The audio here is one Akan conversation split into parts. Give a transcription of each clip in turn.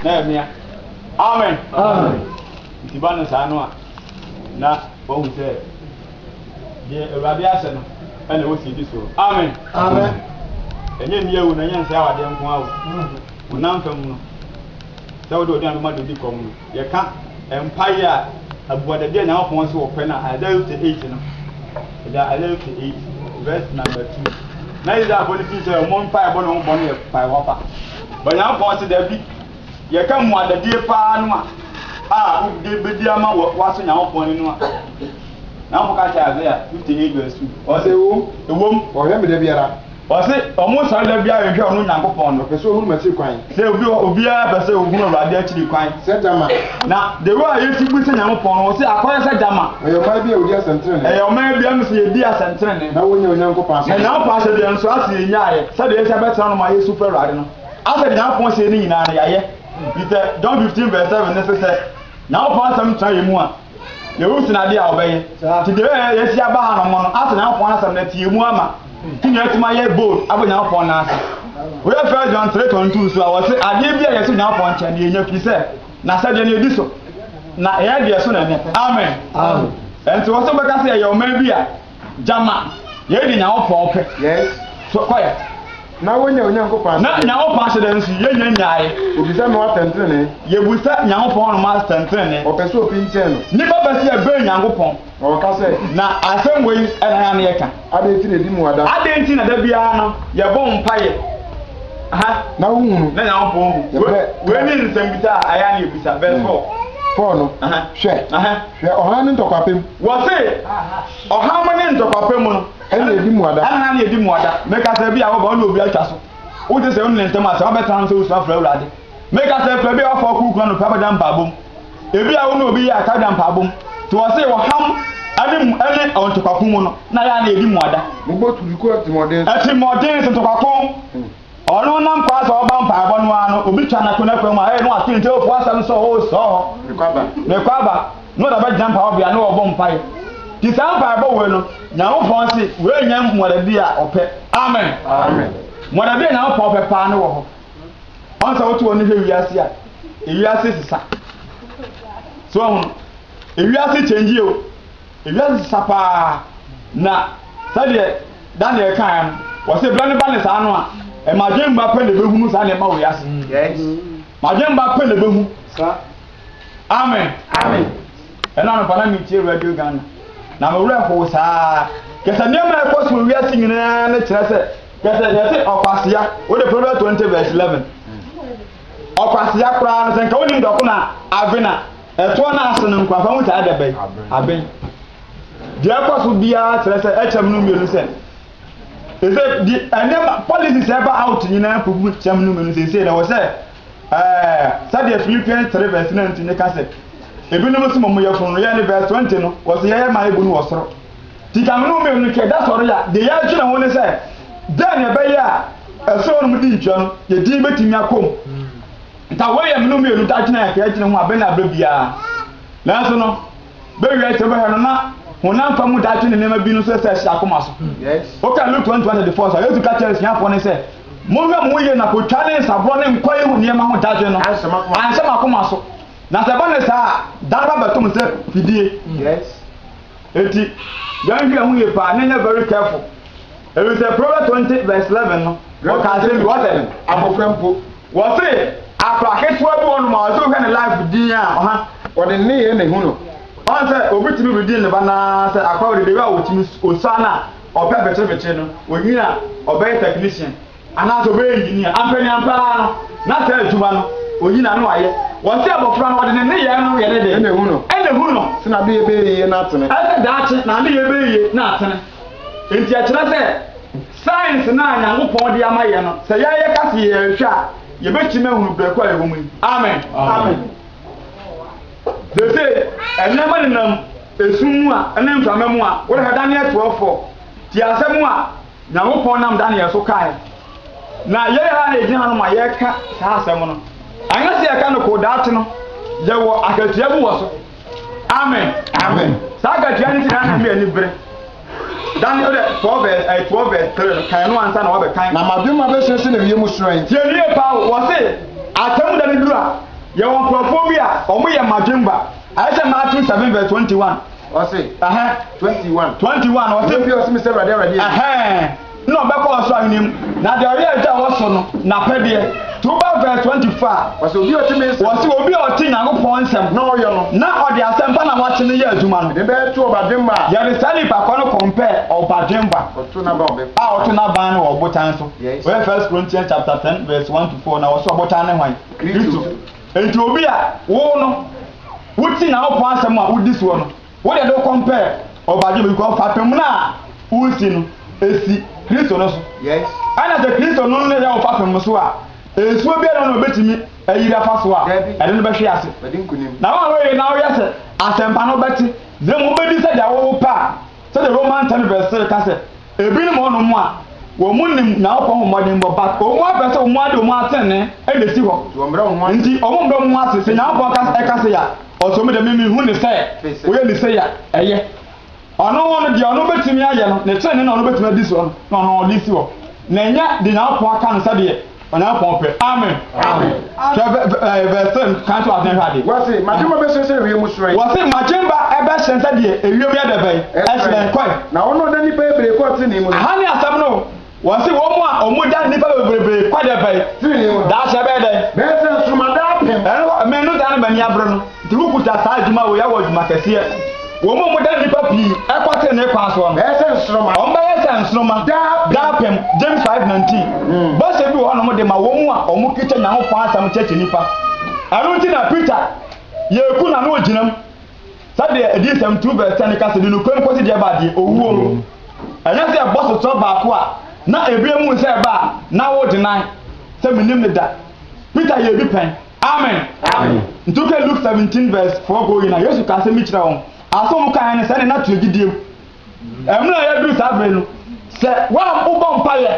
na ɛmea amen nti ba no saa no a na wahu sɛ deɛ awurade ahyɛ no ɛna ɛwɔ sɛ ɛdi soɔ amen ɛnyɛ nni awu na ɛnyɛ nsɛ awadeɛ nko awo honam fam no sɛ wode ɔde anoma de di kɔm no yɛka mpaeɛ a abuadadeɛ nyankopɔn sɛ wɔpɛ no a Isaiah 58 no ɛda Isaiah 58 verse number 2 na Israelfoɔ no fii sɛ ɔmo mpaebɔ ne ho bɔ no yɛ mpaebɔ pa Onyankopɔn se dabi. Yɛka mmuadadie paa no a a wode bɛdi ama wɔ woaso Nyankopɔn ani no a, Nyankopɔn ka kyerɛ Isaiah 58 verse 2, ɔse, Ɛwom, wɔhwɛ me da biara. Ɔse, ɔmo sɔre da biara hwehwɛ ɔno Nyankopɔn no. Ɔpɛ sɛ ɔhunu m'akyiri kwan. Sɛ obi hɔ, obiara pɛ sɛ ɔhunu Awurade akyiri kwan. Sɛ gyama. Na the way a yɛsi bu sɛ Nyankopɔn no, wɔse akɔyɛ sɛ gyama. Ɛyɛ ɔman bi a wɔdi asɛntenenee. Ɛyɛ ɔman bi a ɛmu sɛ yɛdi asɛntenenee. Na wɔnya Onyankopɔn asɛdeɛ. Na Nyankopɔn asɛdeɛ nso ase yɛnyaeɛ, sɛdeɛ yɛsi abɛtena no ma yɛsu frɛ Awurade no. Asɛdeɛ Nyankopɔn seɛ no nyinaa no, yɛayɛ. Nti sɛ John 15 vs 7 no se sɛ Nyankopɔn asɛm tra yɛn mu a. Yehu sin ade a ɔbɛyɛ. Nti deɛ ɛbɛyɛ yɛasi aba ha nom no, asɛ Nyankopɔn asɛm no atie mu ama. Nti na yɛatumi ayɛ bold abɔ Nyankopɔn nan ase. Woyɛ First John 3:22 nso a, wɔse adeɛ bi a yɛsi Nyankopɔn nkyɛn no yɛnya firi sɛ N'asɛdeɛ no yɛdi so, na ɛyɛ deɛ ɛso na ɛnyɛ. Amen. Ɛnti wɔ sɛ wobɛka sɛ yɛyɛ ɔman bi a Gyama yɛn de Nyankopɔn pɛ so kɔɛ. Na wonya Onyankopɔn ahyɛdeɛ. Na Nyankopɔn ahyɛdeɛ nso yɛnya nyaeɛ. Obisa Noa atɛntenenee. Yɛbusa Nyankopɔn nom atɛntenenee. Ɔpɛ sɛ obi nkyɛn no. Nnipa pɛ sɛ yɛbɛn Nyankopɔn. Na wɔka sɛ. Na asɛm wei na yɛn ano yɛka. Adɛn nti na yɛdi mu ada. Adɛn nti na da biara no yɛbɔ mpaeɛ. Aha. Na wohunu. Na Nyankopɔn hu. Yɛbrɛ. Wei ne nsɛmbisa a ɛyɛ a na yɛbisa. Verse four. Four no. Aha. Hwɛ. Aha. Hwɛ ɔhan no ntɔkwapem. Wɔse, ɔham ne ntɔkwapɛ mu no. Ɛna edi mmuada. Ɛna na edi mmuada. Meka sɛ, ebia woba, wo ne obi atwa so. Wogye sɛ wo ne no ntam asɛm, wabɛtena ho sɛ wosua afrɛ Awurade. Meka sɛ, fa bi a woafa wo kuruku anɔpa bɛda mpaebɔ mu. Ebia wo ne obi yɛ aka da mpaebɔ mu. Nti wɔse, ɔham ne ne ntɔkwako mu no, na ɛyɛ a na edi mmuada. Mobɔ turuku atirimmɔden so. Atirimmɔden so, ntɔkwako. Ɔno nam kwan sɛ ɔba mpaebɔ no ara no obi twa no ako n'akwan mu a ɛyɛ na wato nti ɔrepo asɛm sɛ oo sɔɔ hɔ mekɔ aba na ɔde abɛgyina mpaebɔbea na ɔrebɔ mpae nti saa mpaebɔ wei no Nyankopɔn se wei nyɛ mmɔdabi a ɔpɛ amen mmɔdabi a Nyankopɔn pɛ paa ne wɔ hɔ ɔn sɛ woto wɔn hwɛ wiase a ewiase sesa so ɔho ewiase kyɛngye o Wiase sesa paa, na sɛdeɛ Daniel kaeɛ no, wɔse berɛ no ba ne saa no a, mmadwemma pɛ na ɛbɛhunu saa nneɛma wɔ wiase. Mmadwemma pɛ na ɛbɛhu. Amen. Amen. Ɛna anɔpa na metie Radio Ghana, na me werɛ hoo saa. Kɛsɛ nneɛma a ɛkɔ so wɔ wiase nyinaa no kyerɛ sɛ, kɛsɛ yɛse ɔkwasea, wode Proverbs 20 verse 11. Ɔkwasea koraa no, sɛ nka wonim dɔko na avena. Ɛtoɔ no ase no nkwampa mu taa da bɛ, aben. Deɛ ɛkɔ so biara kyerɛ sɛ ɛkyɛm no mmienu sɛ ɛsɛ di ɛnneɛma policies ɛba out nyinaa kugu kyɛm no mmienu seesei na wɔ sɛ ɛɛ sɛdeɛ Philippians three verse nineteen ne ka sɛ ebinom so mɔmu yɛ funu no yɛ ne verse twenty no wɔ sɛ yɛyɛ maa ebu no wɔ soro ti kyɛm no mmienu no twɛ da sɔre a deɛ yɛadwene ho ne sɛ dɛn na ɛbɛyɛ a ɛsoro no mu di ntua no yɛ din bɛtumi akɔ mu. Nka wei yɛ me no mmienu daakye na yɛkae kyerɛ ho abɛ ne abɛ biara. Nanso no, bɛ wiɛ sɛ bɛhwɛ no na honam fam mu daakye ne nneɛma bi no nso ɛsɛ ɛhyɛ akoma so. Woka Luke 21:34 nso a, Yesu ka kyerɛ asuafoɔ no sɛ, Monhwɛ mo ho yie na kotwa ne nsaborɔ ne nkwa yi ho nneɛma ho dadwen no anhyɛ mo akoma so. Na sɛ ɛba no saa a, da no ba bɛto mo sɛ fidie. Enti, yɛnhwɛ ho yie paa na yɛnyɛ very careful. Ɛfiri sɛ Proverbs 20 verse 11 no, wɔkaa asɛm bi, wɔsɛ. Abɔfra mpo, Wɔse akora ketewa bi wɔnom a ɔse wohwɛ ne life din a ɔha wɔde ne nneyɛɛ na ehu no. Ɔn sɛ obi tumi redi ne ba naa sɛ akora wɔ dede a otumi osua no a ɔpɛ bekyere bekyere no onyin a ɔbɛyɛ technician anaasɛ ɔbɛyɛ engineer ampaniampa ara no na saa adwuma no onyin a na wayɛ. Wɔse abɔfra no wɔde ne nneyɛɛ no yɛ ne de na ehu no na ehu no sɛ n'adeyɛ bɛyɛ yie na atene. Ɛsɛ daakye n'adeyɛ bɛyɛ yie na atene. Enti ɛkyerɛ sɛ. Science no a Nyankopɔn de ama yɛn no, sɛ yɛyɛ ka se yɛrehwɛ a, yɛbɛtumi ahunu brɛko a ɛwɔ mu yi. Amen. Amen. Seesei, nneɛma nenam esum mu a ɛne mframa mu a, worehwɛ Daniel twerɛfoɔ, tie asɛm a Nyankopɔn nam Daniel so kaeɛ. Na yɛn ara a yɛgyina hanom a yɛreka saa asɛm no, anyɛ sɛ yɛka no koo daakye no, yɛwɔ akatua bi wɔ so. Amen. Amen. Saa akatua no nti na na me ani bere. Dan no dɛ Proverbs ɛyɛ Proverbs three no kan no ansa na wɔabɛ kan. Na m'adwen ma bɛsene sene wiem hyerɛn. Tie no yie paa o, wɔse atemmuda no duru a, yɛwɔ nkurɔfoɔ bi a wɔn yɛ mmadwemma, ayɛ sɛ Matthew seven verse twenty one. Ɔse, ɛhɛn, twenty one. Twenty one, ɔse. Obi a ɔse me sɛ Awurade, Awurade, ɛyɛ. Ɛhɛn. Nna ɔbɛkɔ ɔsor Ahenni mu, na dza ɔyɛ dza ɔwɔ sor no, n'apɛdeɛ. Ntsi woba verse twenty four a, Ɔse obi a ɔtse me nsɛm. wɔse obi a ɔtse Nyankopɔn nsɛm Na ɔyɛ no. na ɔdze asɛmpa na wɔatse no yɛ adwuma no, Yɛde bɛyɛ to ɔbadwemba a. yɛde saa nyimpa korɔ no kɔmpɛɛ ɔbadwemba Ɔto n'aban wɔ bepɔ. a ɔto n'aban no wɔ ɔbotan so. Yes. Woyɛ First Corinthians chapter ten verse one to four na wɔse ɔbotan ne hwan? Kristofo. Ntsi obi a wo no wotse Nyankopɔn asɛm a wodzi soɔ no, Wo deɛ no kɔn pɛ ɔbadwemma bikɔ fapem no a wo nsi no esi Kristo no so ɛna sɛ Kristo no na ɛyɛ wo fapem no so a nsuo biara nni hɔ na obetumi ayiri afa so a ɛde no bɛhwe ase na wo a woyere na woyɛ sɛ asɛmpa no wobɛte na mmom wobedi sɛdeɛ wowo pɛ a sɛdeɛ Roman ten verse three ka sɛ Ebinom wɔ hɔnom a wɔnnim Nyankopɔn ho mmɔdenbɔ, but wɔpɛ sɛ wɔn ade wɔn atɛnee na esi hɔ, nti wɔmmrɛ wɔn ase, sɛ Nyankopɔn ɛka sei a, ɔse wɔn deɛ me menhu no sɛ wɔyɛ no sei a, ɛyɛ ɔno no deɛ ɔno bɛtumi ayɛ no, ne tenenee na ɔno bɛtumi adi soɔ no na ɔno ɔde si hɔ, na ɛnyɛ deɛ Nyankopɔn aka no sɛdeɛ. Onyankopɔn pɛ. Amen. Hwɛ vɛ vɛ ɛɛ verse three no kan to aseɛ hwɛ adeɛ. Wɔse, M'adwemma bɛhyerɛn sɛ ewiem hyerɛn. Wɔse, M'adwemma bɛhyerɛn sɛ deɛ ewiem yɛ dɛ bɛn? Ɛhyerɛn. Kɔe. Na ɔno ɔda nnipa bebree kɔ trenee mu no. Aha ne asɛm no o. Wɔse, Wɔn a wɔda nnipa bebree kɔ dɛ bɛn? Trenee mu no. Daakye ɛbɛyɛ dɛn? Bɛyɛ sɛ nsoromma daapem. Ɛno hɔ, me no da no m'ani abere no. Nti wokuta saa adwuma wei awɔ adwuma kɛseɛ. Wɔn a wɔda nnipa pii kɔ tenenee kwan soɔ no, Bɛyɛ sɛ nsoromma. wɔbɛyɛ sɛ nsoromma. Daapem. Daapem, James five nineteen. Bɔhyɛ bi wɔ hɔnom de ma wɔn a wɔkita Nyankopɔn asɛm kyerɛkyerɛ nnipa. Ɛno nti na Peter yɛɛ kunu a na ɔgyina mu, sɛdeɛ Adiyisɛm two verse ten no ka sɛ, Di nokorɛ mu kɔsi deɛ ɛba deɛ, owuo. Ɛnyɛ sɛ ɛbɔ sotorɔ baako a na ɛbia mu sɛ ɛba a na wodenan sɛ mennim no da. Peter yɛɛ bi pɛn. Amen! Ntsi wohwɛ Luke seventeen verse four kɔ ewiei no a, Yesu ka asɛm bi kyerɛ hɔn, asɛm a wɔkaa nye no, sɛ ne nã to gyedie mu. Mbrɛ a yɛdur saa ber yi no, sɛ wɔbɔ mpaeɛ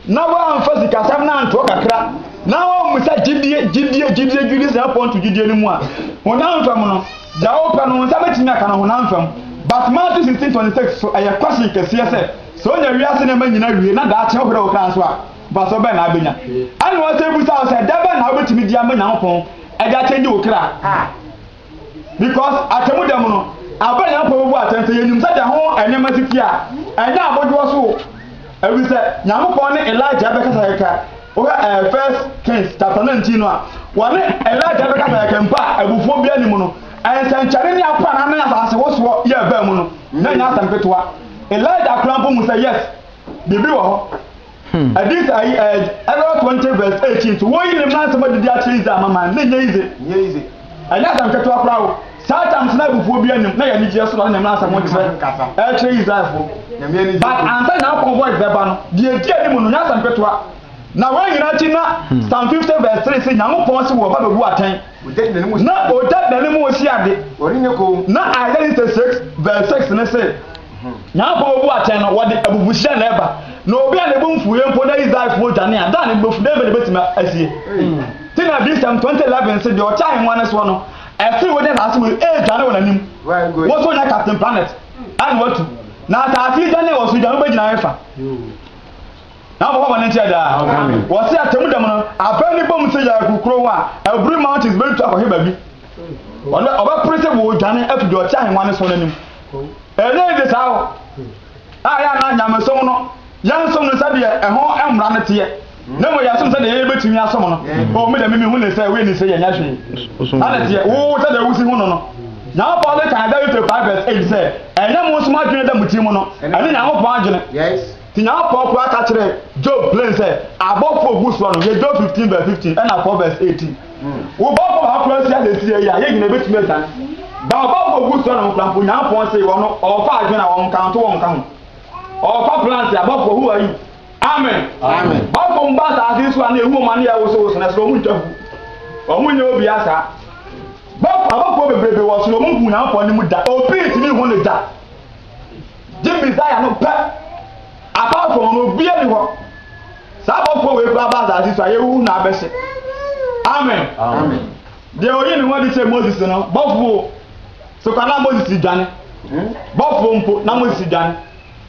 na wɔammfa sikasɛm no anntoɔ kakra na wɔammisa gyedie, gyedie, gyedie, gyedie sɛ Nyankopɔn to gyedie no mu a, honam fam no, dza wɔpɛ no wo nsa betumi aka no honam fam. But Matthew sixteen twenty six so, ɛyɛ caution kɛseɛ sɛ, sɛ onya wiase nneɛma nyina wie na daakye ɔhwerɛ wo kra so a, Mfaso bɛn na abenya? Ɛnna ɔsan bisa wo sɛ, dɛn bɛn na wobetumi de ama Nyankopɔn de akyɛngye wo kra? Because atemmu da mu no, aber a Nyankopɔn bebu atɛn sɛ yenyim sɛdeɛ ho nneɛma si teɛ a, ɛnyɛ abodwoɔ so o. Efisɛ Nyankopɔn ne Elijah rebɛkasa kɛkɛ. Wohwɛ ɛɛ First Kings chapter nineteen no a, wɔne Elijah rebɛkasa kɛkɛ mpo a abufuo biara nni mu no, nsɛnkyerɛnne ne aprannaa ne asasewosoɔ yɛ baa mu no, na ɛnyɛ asɛm ketewa. Elijah koraa mpo hu sɛ yes, biribi wɔ hɔ. Hmm. Adis ayi ɛ ɛlɔ twenty verse eighteen so wɔn yi ne mmaa nsɛm adidi akyerɛ Israel amaman ne nyɛ yize. Nyɛ yize. Ɛnyɛ asɛm ketewa koraa o. Saa tam sena abufuo bi anim na yɛ anigyeɛ so na ne mmaa nsɛm nkyerɛ ɛkyerɛ Israelfoɔ. But ansa nyɛ akɔn voice bɛba no deɛ edi anim no nyɛ asɛm ketewa. Na wɔn nyinaa akyi na hmm. Psalm fifty verse three sɛ Nyankopɔn si wɔ ba bɛbu atɛn. Na ɔgya dane mu osi ade. Na Isaiah sixty six verse six ne sɛ. Na afei obu atɛn no, wɔde abufuhyeɛ na ɛba. Na obi a ne bo mfuiɛ mpo na Israelfoɔ dwane a, da ne bo fu, dɛn na ɛbɛtumi asie? Te na Adiyisɛm 2011 se, Deɛ ɔte ahennwa no soɔ no, ɛsene wɔn gyina asase mu redwane wɔn anim. Wo so nyɛ Captain Planet a na watu. Na asase yi dwane a ɔsoro dwane, wobɛgyina hefa? Na wɔbɛfa bɔne nkyɛ daa. Wɔse atemmu da mu no, abɛn no bom sɛ yɛɛ kurokurow a, aburi mountains bɛtu akɔhwe baabi. Ɔbɛpere sɛ wɔredwane afi deɛ ɔte ahennwa no soɔ no anim. Ɛdɛn nti saa o? A ɛyɛ a na nyamesom no, yɛnsom no sɛdeɛ ɛho mmara no teɛ, na mmom yɛsom sɛdeɛ yɛn yɛbɛtumi asom no. O me deɛ me mehu ne sɛ wei ne sɛ yɛnyɛ hwee. Saa na teɛ, wo sɛdeɛ wosi hu no no. Nyankopɔn de kan Galatians 5 verse 8 sɛ, Ɛnyɛ mo nso mo adwene a ɛda mo tirim no, ɛne Nyankopɔn adwene. Nyankopɔn koraa ka kyerɛɛ Job plen sɛ abɔfo a ogu soɔ no yɛ Job fifteen vs fifteen ɛna four vs eighteen. Wo bɔfo baako koraa si asesie yi a yɛn nyinaa bɛtumi adwane. Ba ɔbɔfo a ogu soɔ no ho koraa mpo Nyankopɔn se wɔn no ɔɔfa adwene a wɔn ka nto wɔn ka ho. Ɔɔfa plants a bɔfo who are you? Amen. Amen. Bɔfo mba asaase yi so a na ehu wɔn ano yɛ wosowoso na ɛsoro wɔn ntwa hu. Wɔn nyɛ obia saa. Bɔfo abɔfoɔ bebrebe wɔ soro wɔn nhu Nyankopɔn anim da. Obi ntumi nhu no da. Gye Messiah no pɛ. Apart from no obia ni hɔ. Saa abɔfoɔ wei koraa ba asase so a yɛwuwu na abɛhyɛ. Amen. Amen. Deɛ oyi ne ho adi kyerɛ Moses no bɔfoɔ so kwa na Moses dwane. Hmm? Bɔfoɔ mpo na Moses dwane.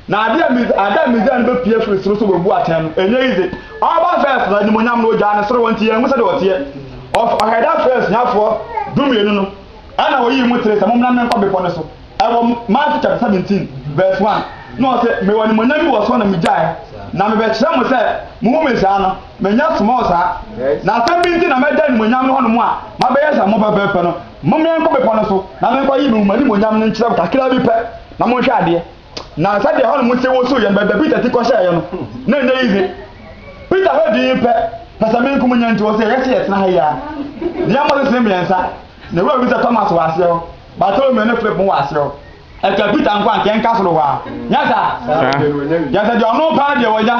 Na adeɛ adeɛ Messiah no bɛpie afiri soro so bɛbu atɛn no ɛnyɛ yize. Ɔba first na animonyam no ogyaa ne soro hɔ nti yɛn ho sɛdeɛ ɔteɛ. Ɔhɛda first nyafoɔ dumienu no. Ɛnna oyii mo kyerɛe sɛ mommra mmɛn kɔ bepɔ no so. Ɛwɔ Matthew chapter seventeen verse one. Na ɔse, Mewɔ animuonyam bi wɔ soro na migyae, na mebɛkyerɛ mo sɛ muhu me saa no, menyɛ small saa. Na asɛm bi nti na magyae animuonyam no hɔnom a mabɛyɛ sɛ mo pɛpɛɛpɛ no. Mommɛn kɔ bepɔ no so na menkɔyi me animuonyam no nkyerɛ mo kakraa bi pɛ, na monhwɛ adeɛ. Na sɛdeɛ hɔnom te wosoo yɛn baabi a Peter ti kɔhyɛeɛ no, na ɛnyɛ yiye. Peter hwɛ dinn pɛ, pɛsɛmenkomu nya nti, ɔsee, Yɛse yɛtena ha yi ara. Ne yɛmmɔ sesee mmiɛnsa, na Wura bisa Thomas wɔ aseɛ hɔ, Bartolomeo ne Philip mo wɔ aseɛ hɔ. Ɛka Peter nko a, anka ɛnka soro hɔ ara. Nyɛ saa? Yɛse deɛ ɔno paa deɛ wɔnya.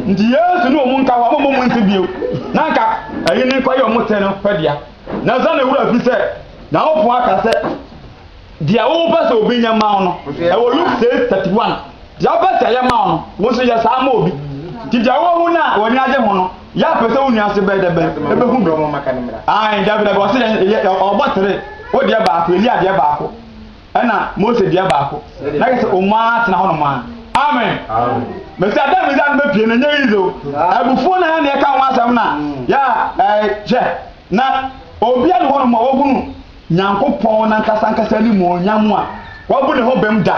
Nti Yesu ne wɔn nka hɔ, mommɔ mo nse bio. Na anka ɛyi ne nkɔyɛ wɔn tee no pɛ dea. Nanso na ne wura fi sɛ, Nyankopɔn aka sɛ, Deɛ wopɛ sɛ obi nyɛ ma wo no, ɛwɔ Luke six thirty one. Deɛ wopɛ sɛ ɛyɛ ma wo no, wo nso yɛ saa ma obi. Nti deɛ woahu no a w'ani agye ho no, yɛ a pɛ sɛ wo nua nso bɛyɛ dɛ bɛn, ɛbɛhu bi. Ae, dabi dabi, ɔse yɛn, yɛ, yɛ, ɔbɔ tere. Wo deɛ baako, Elia deɛ baako, ɛna Mose deɛ baako. Na kɛ sɛ wɔn ara tena hɔnom ara. Amen. Mesi ada mi zan bɛ pie na nye yize o. Abufuo na ya na ɛka ho asɛm na ya ɛɛ hwɛ na obi a ne hɔnom a wɔhunu Nyankopɔn n'ankasankasa animuonyam a wabu ne ho bem da.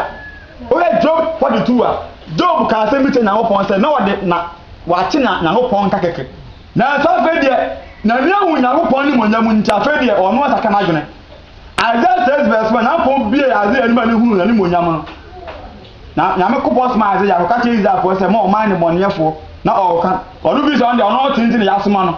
Wohwɛ Job 42 a, Job kaa asɛm bi kyerɛ Nyankopɔn sɛ na ɔde na wakye na Nyankopɔn nka kɛkɛ. Nanso afei deɛ, n'ani ahu Nyankopɔn animuonyam nti afei deɛ ɔno asakra n'adwene. Isaiah 6 vs 1, Nyankopɔn buee Isaiah anim a ne hunuu n'animuonyam no. Na Nyankopɔn somaa Isaiah kɔka kyerɛɛ Israelfoɔ sɛ, Mo ɔman nnebɔneyɛfoɔ, na ɔreka. Ɔno firi sɛ ɔno deɛ ɔno ɔte nti na yɛasoma no.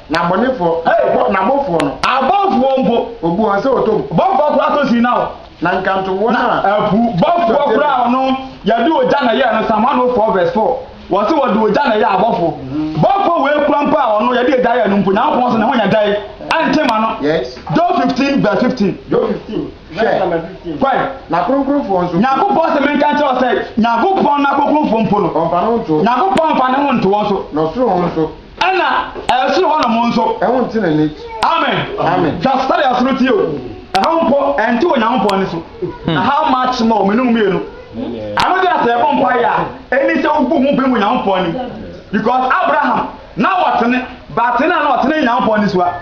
Na abɔnefoɔ, Ei, hɔ, n'abɔfoɔ no. Abɔfoɔ mpo. Ɔbu wɔn sɛ wɔtɔ mu. Bɔfoɔ koraa tɔ sin na wɔ. Na nkanto wɔn a. Na apu. Bɔfoɔ koraa a ɔno, Yɛde ogya na ɛyɛɛ no, Psalm 104 vs 4, Wɔse wɔde ogya na ɛyɛɛ abɔfoɔ. Bɔfoɔ wei koraa mpo a ɔno, Yɛde egya yɛɛ no mpo, Nyankopɔn nso, ne ho nyɛ dɛn? Ɛnte ma no? Yes. Job 15 vs 15. Job 15 vs number 15. Kɔe. N'akronkronfoɔ nso. Nyankopɔn se menka nkyerɛ wo sɛ, Nyankopɔn n'akronkronfoɔ mpo no. Ɔmfa ne ho nto. Nyankopɔn mfa ne ho nto wɔn so. Na ɔsoro ho nso. Ɛna ɛsoro hɔ nom nso. Ɛho nte n'ani. Amen. Amen. Hwɛ asotade a ɛsoro teɛ o. Ɛhɔ mpo ɛnte Onyankopɔn ani so. Hmm. Na how much more mene wo mmienu. Ɛno deɛ sɛ ɛbɔ mpa yɛ a, ɛni sɛ wobu ho bɛn wɔ Onyankopɔn anim. Because Abraham na ɔtene, batene a na ɔtene Onyankopɔn ani so a.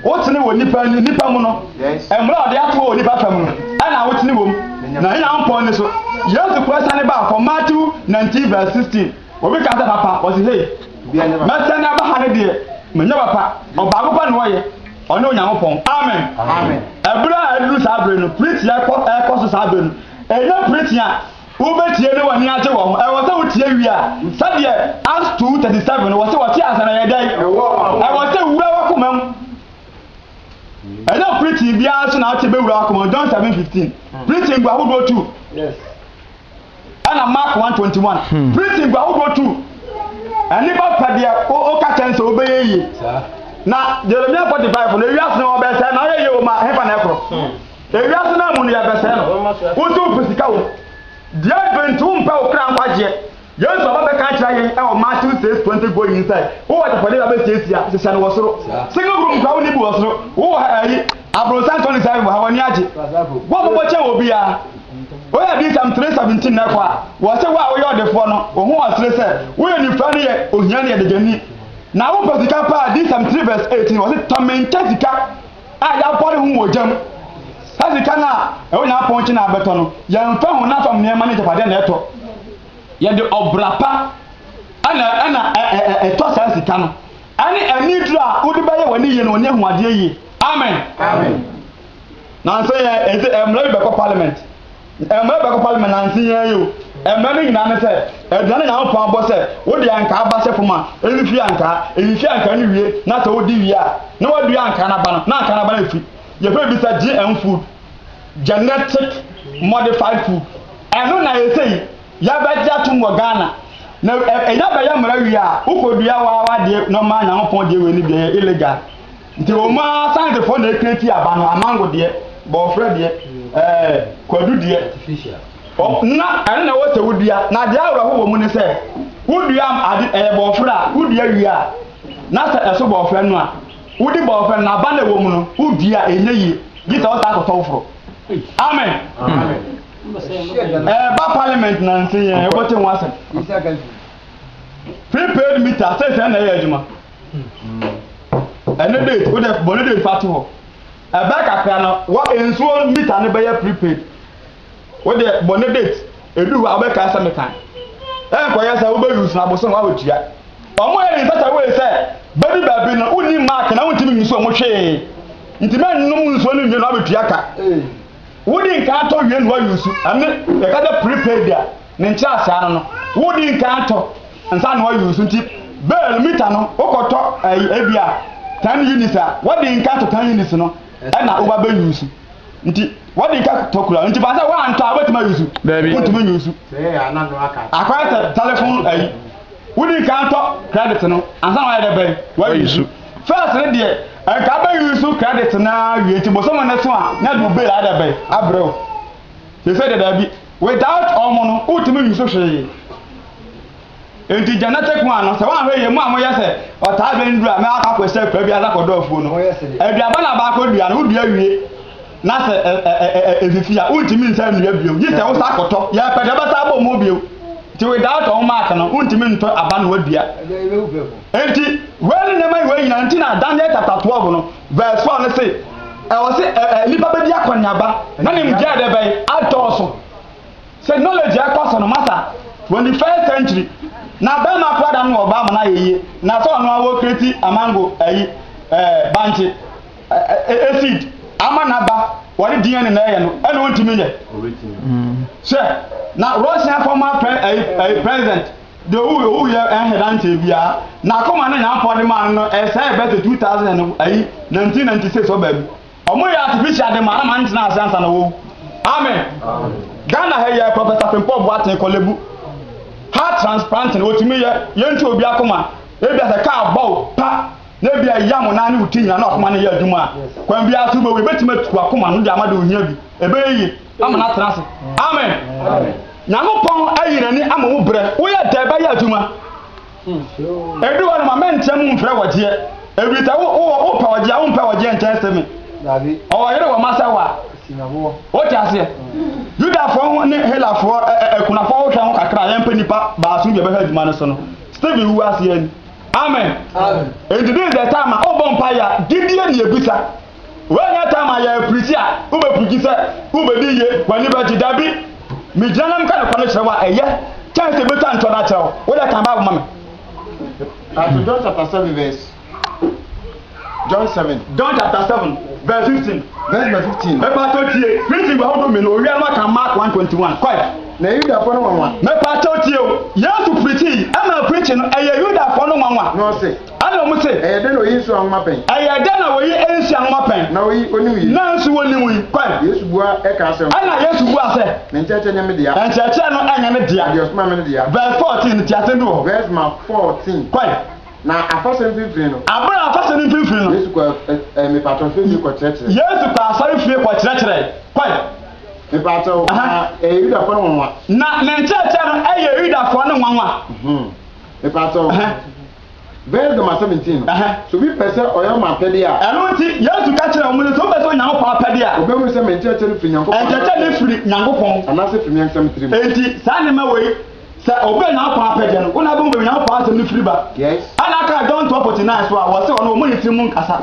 Wotene wɔ nipa nipa mu no. Mmerɛ ɔde ato wɔ nipa fam no, ɛna wotene wɔ mu. Na Onyankopɔn ani so. Yesu kura sane baa fam Matthew 19 verse 16. Obi ka sɛ papa, ɔse hei, mɛsɛn na aba ha no deɛ, menyɛ papa, ɔbaako pɛ na ɔyɛ, ɔne Onyankopɔn. Amen. Ɛberɛ a aduru saa berɛ no, preaching a ɛkɔ, ɛkɔ so saa berɛ no, ɛnyɛ preaching a wobɛtie na w'ani agye wɔ ho, ɛwɔ sɛ wotie wie a, sɛdeɛ Acts 2:37 no, wɔse wɔte ansa na ɛyɛ dɛn? Ɛwɔ sɛ ɛwura w'akoma mu. Ɛnyɛ preaching biara so na wote bɛwura w'akoma mu, John 7:15. Preaching gu ahodoɔ tu. ɛna mark one twenty one hmm. printing gu ahodoɔ tu ɛne ba pɛ deɛ ɔka kyɛn sɛ ɔbɛyɛ yie na jeremia forty five na ewiase na ɔbɛsɛn na ɔyɛ yie wɔ ma hefa na ɛkorɔ hmm. ewiase na mu no yɛbɛsɛn no wotu mpɛ sika wɔ deɛ bɛntu mpɛ wo kra nkwagyeɛ yesu aba bɛka kyerɛ yɛn ɛwɔ matthew six twenty go yin sɛ wowɔ adapɔde ba bɛsiesia hyehyɛ no wɔ soro single room kura wo ne bi wɔ soro wowɔ ɛyi aburonsan tɔni sɛ ɛwɔ ha wɔ ani agye wɔn bɔbɔ kyɛn wɔ biara. Woyɛ Adiyisɛm three seventeen na ɛkɔ a, wɔse wo a woyɛ ɔdefoɔ no, wo ho ɔsere sɛ woyɛ onifura ne yɛ ohia ne yɛ deguani, na wopɛ sika paa, Adiyisɛm three verse eighteen, wɔse tɔ me nkyɛ sika a yɛabɔre ho wɔ gya mu, saa sika no a ɛwɔ Nyankopɔn nkyɛn a abɛtɔ no, yɛmfa honam fam nneɛma ne agyapadeɛ na ɛtɔ, yɛde ɔbra pa ɛna ɛna ɛ ɛ ɛ ɛtɔ saa sika no, ɛne aniduro a wode bɛyɛ w'ani yie na w'ani ahu adeɛ yie. Amen. Amen. Nansa yi ara enti mmara bi bɛkɔ parliament. Mmara bi bɛkɔ parliament nansa yi ara yi o. Mmara no nyinaa ne sɛ, aduan a Nyankopɔn abɔ sɛ wode ankaa ba hyɛ fam a, mfifiri ankaa. Efifiri ankaa no wie na sɛ wodi wie a, na woadua ankaa no aba no, na ankaa no aba no afifiri. Yɛfrɛ biribi sɛ GM food, Genetic Modified Food. Ɛno na ɛsɛ yi yɛabɛgye atom wɔ Ghana. Na ɛnya bɛyɛ mmara wie a, wokɔdua wo ara w'adeɛ normal Nyankopɔn deɛ wei no bi, ɛyɛ illegal. Nti wɔn ara Asantefoɔ na ɛka ti aba no, amango deɛ, bɔɔfrɛ deɛ, ɛɛ, kwadu deɛ. Ɔ, na ɛno na ɛwɔ sɛ wodua. Na deɛ awerɛho wɔ mu ne sɛ, wodua ade, ɛyɛ bɔɔfrɛ a, wodua wie a, na sɛ ɛso bɔɔfrɛ no a, wode bɔɔfrɛ no, na aba no ɛwɔ mu no, wodua a, ɛnyɛ yie. Gye sɛ wotaa kɔtɔ foforo. Amen. Ɛɛba parliament na nse yɛn, wobɛte ho asɛm. Prepaid meter, sɛsɛ na ɛyɛ adwuma. Ɛno date wo dɛ bɔ ne date fa to hɔ. Ɛbɛyɛ kakra no wɔ nsuo mita no bɛyɛ prepaid. Wo deɛ bɔ ne date edu hɔ a wobɛkae sɛ mekae. Ɛnkɔyɛ sɛ wobɛ use no abosom hɔ a wotua. Wɔn yɛ in such a way sɛ bɛdu baabi no wonni mark na wontumi use wɔn hwee. Nti mɛnnom nsuo no nwie na woabɛtua ka. Wodi nkan tɔ wie na woayusu. Ɛno yɛka sɛ prepaid a. Ne nkyerɛase ano no, wodi nkan to nsa na wɔayi wo so nti bale mita no wokɔtɔ ɛyi ebia ten units a wɔde nkan to ten units no ɛna woba bɛyi wo so nti wɔde nka tɔ kura nti fa sɛ woantɔ a wobɛtumi ayi so wontumi nyi so akɔyɛ sɛ telefon ayi wodi nkan tɔ credit no ansa na wayɛ dɛ bɛn wayi so first no deɛ nka bɛyi so credit na wie nti bosom no so a na de wo bale ayɛ dɛ bɛn abrɛ Te sɛ dɛdɛɛ bi. Without wɔn no wontumi nsusu hwee. Enti Janette kua no sɛ woanhwɛ yie mo a moyɛ sɛ ɔtaa bɛn duru a mɛ wakɔ akɔsi akura bi ase akɔdɔ afuo no. Aduaba na baakɔ dua no wodua wie na sɛ efifi a wontumi nsan nnua bio gye sɛ wosan kɔtɔ. Yɛpɛ deɛ ɔbɛsan abɔ mo bio. Nti without wɔn mark no wontumi ntɔ aba na woadua. Enti wei ne nneɛma wei nyinaa nti na Daniel chapter twelve no Verse four no se, Ɛwɔ se ɛ ɛ nipa bedi akɔneaba na nimdeɛ de bɛn adɔɔso. Se knowledge ɛkɔ so no, masa, twenty first century, na bɛɛma koraa da no na ɔbaa ma no ayɛ yie, na se ɔno ara wɔ create amango ayi ɛ bankye ɛ ɛ seed ama naba, wɔde DNA na ɛyɛ no, ɛna ontumi nyɛ. Hwɛ, na Russiafɔ ma pre ɛ ɛ president. Deɛ ɔwuiɛ ɔwuiɛ yɛ ɛyɛ ahedanteɛ biara n'akoma ne Nyankopɔn de maa no no ɛsɛe bɛ sɛ 2000 and ayi 1996 ɔbaa mu ɔmo yɛ artificial de ma na ma no tena ase ansa na wawu amen Ghana ha yi Professor Frimpong Boateng Korle-Bu heart transplanting ɔtumi yɛ yɛn tu obi akoma ebia sɛ kaa bɔ wo pa na ebia ɛya mo nan ne wo ti nyina na akoma no yɛ adwuma a kwan biara so wobɛwu yɛbɛtumi atu akoma no de ama de ohia bi ɛbɛyɛ yie. ama no atena ase amen nyankopɔn ayi n'ani ama wo berɛ woyɛ dɛ bɛyɛ adwuma ɛdu hɔ no ma mɛnteɛ mu mfrɛ wɔgyeɛ ɛfiri sɛ wopɛ wɔgyeɛ a wompɛ wɔgyeɛ nkyɛn sɛ me ɔwɔ yere wɔ ma sɛ wa wote aseɛ yudafoɔ ne helafoɔ akunafoɔ wohwɛ ho kakra a yɛmpɛ nnipa baaso bi a bɛhwɛ adwuma no so no stephen wu aseɛ ni amen ɛnti this is the time a wobɔ mpa yɛ a gyidie ne ɛbisa Woanya tam a yɛ pirikyi a wubepirikyi sɛ wubedi yiye, w'ani begye. Dabi, migyina na meka nokware no kyerɛ wo a, eye kyɛn sɛ metwa ntɔn akyerɛ wo. Wo de, kan Bible ma me. Kanto John chapter seven verse John seven. John chapter seven verse fifteen. Verse number fifteen. Mepatɔ tie, Kristi ba ahodoɔ mmienu, owia no aka Mark one twenty one. Kɔe. Na Yudafo no nwanwa. Mepatɔ tie o, Yesu pirikyii, ɛma pirikyii no ɛyɛ Yudafo no nwanwa. Na ɔse. Ɛna ɔmo se. Ɛyɛ dɛn na oyi nsuo anwoma pɛn? Ɛyɛ dɛn na oyi nsuo anwoma pɛn? Na oyi onim yi. Na nso onim yi pɛn? Yesu bua ɛkaa sɛ. Ɛna Yesu bua sɛ. Ne nkyerɛkyerɛ nyɛ me dea. Nkyerɛkyerɛ no ɛnyɛ ne dea. Na deɛ ɔsomaa me no dea. Verse fourteen no tiasɛm bi wɔ hɔ. Verse ma fourteen. Kɔe. Na afahyɛ no mfimfini no. Abere a afahyɛ no mfimfini no. Yesu kɔɔ ɛ ɛ mepaatɔ asɔre fie kɔ kyerɛkyerɛɛ. Yesu kɔɔ asɔre fie kɔ kyerɛkyerɛɛ. Kɔe. Mepaatɔ o, na ɛyɛ Yudafoɔ no nwanwa. Na ne nkyerɛkyerɛ no ɛyɛ Yudafoɔ no nwanwa. Mepaatɔ o. Bɛyɛ dɛm asɛm ntsi no, sɛ obi pɛ sɛ ɔyɛ m'apɛde a. Ɛno ntsi, Yesu ka kyerɛɛ hɔn dɛ, sɛ obi pɛ sɛ ɔyɛ Nyankopɔn apɛde a. Obehu sɛ me nkyerɛkyerɛ no fi Nyankopɔn anaa. Nkyerɛkyerɛ no fir Nyankopɔn. Anaasɛ fi me ankasa me tsirmu. Ntsi, saa nneɛma wei, sɛ obi yɛ Nyankopɔn apɛde no, hɔn a wobohu beebi a Nyankopɔn asɛm no fir ba. Yes. Ana ɔkaa John twelve forty nine so a, wɔse ɔno wɔ hɔn tsirmu nnkasa,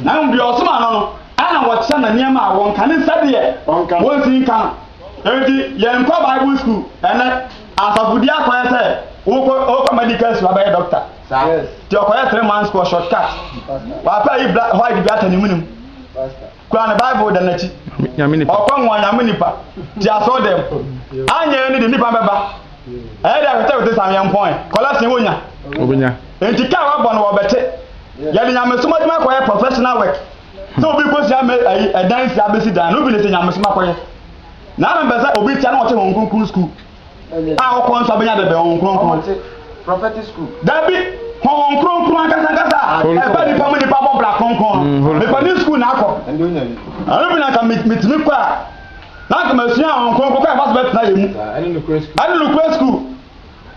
na mbom deɛ ɔsomaa no no, ana wɔkyerɛ no nneɛma a wɔnka, ne nsa deɛ. Ɔnka. Wonsi nka no. Ntsi, yɛnkɔ Bible skuul, ɛnnɛ. Asafo di akɔyɛ sɛ wokɔ wokɔ medical school abɛyɛ doctor. Ti ɔkɔyɛ three months kɔ short cut. Wapɛ ayi bla white bi atɛ ne mu ne mu. Kura ne bible da n'akyi. Ɔkɔ nwa nyame nipa. Ti asɔ dɛm. Anyɛ ne de nipa bɛba. Ɛyɛ de ahwetɛhwete sam yɛn pɔn. Kɔla sin wonya. Obinya. Enti kaa wabɔ no wɔbɛte. Yɛde nyamesom adwuma kɔyɛ professional work. Sɛ obi kɔsua me ayi ɛdan si abɛsi dan no obi ne sɛ nyamesom akɔyɛ. Na na mepɛ sɛ obi te a na ɔte Honhom Kronkron Sukuu a ɔkɔ nso abɛnya dɛbɛn Honhom Kronkron. Dabi, Honhom Kronkron ankasa ankasa a ɛba nipa mu nipa bɔ bra kronkron no, mm, mepɛ ne sukuu na akɔ. Ɛno bi na nka metumi kɔ a, na nka masua Honhom Kronkron kɔ a ɛfa so bɛtena yɛ mu. Ɛne nokorɛ sukuu.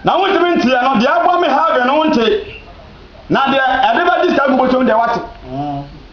Na wontumi nteɛ no, deɛ ɛbɔ me ha adwene no wonte. Na deɛ ɛde bɛgye saa gu bɔtwam deɛ wate.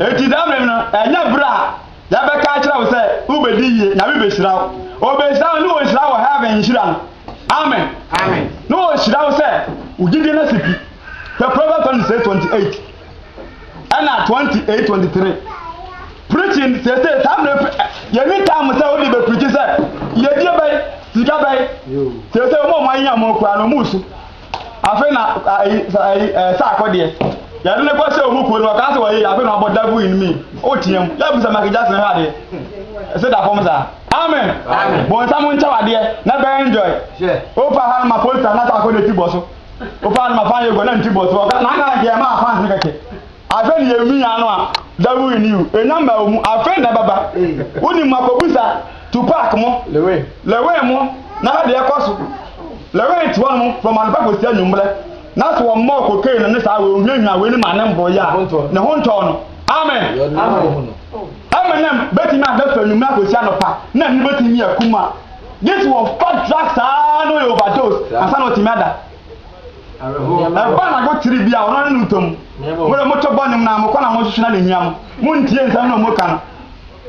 Enti da bem no, ɛnyɛ bere a yɛbɛka akyerɛ wo sɛ wobɛdi yie, Nyame bɛhyira wo. Ɔbɛhyira wo ne ɔnhyira wo heaven nhyira no. Amen. Na ɔhyira wo sɛ wo gyidie no asi pi. Hwɛ Proverbs 26, 28 ɛna 28, 23. Preaching sese saa mmerɛ pre yɛni time sɛ wode bɛprikyi sɛ yɛdie bɛn, sika bɛn. Sese wɔn a wɔn ayenya wɔn kura no wɔn su. Afei na ayi ayi ɛɛ saako deɛ yɛde ne kɔ sɛ ɔmu kuo no ɔkaa sɛ wɔyɛ afei na ɔbɔ dagu in me o tia mu yɛ busa Michael Jackson hwɛ adeɛ ɛsɛ da fam saa amen bɔnsam nkyɛw adeɛ na bɛn enjoy opa ha no ma polita na saako na ti bɔ so opa ha no ma fan yɛ gɔ na nti bɔ so ɔka na aka nkeɛ ma afans ne kɛkɛ Afei ne yɛn nua no a devil in you enya mmaa mu afei na ɛbɛba wonim mu akɔbusa Tupac mo Lewin mo na hwɛ deɛ ɛkɔ so Lewin te hɔ nom from anɔpa kɔsi anwummerɛ na so wɔmmɔɔ cocaine no ne saa wei ohiahia wei ne ma ne mboro yɛ a ne ho ntɔɔ no amen Eminem bɛtumi ada firi anwummerɛ akɔsi anɔpa na ani bɛtumi akum a gye sɛ wɔmfa drugs saa na ɔyɛ overdose ansa na ɔtumi ada Ɛba na go tiri bi a ɔno ne no ntam. Mo de mo to bɔ nnwom na mo kɔ na mo nhwehwɛ na nehia mo. Mo ntie nsɛm na mo ka no.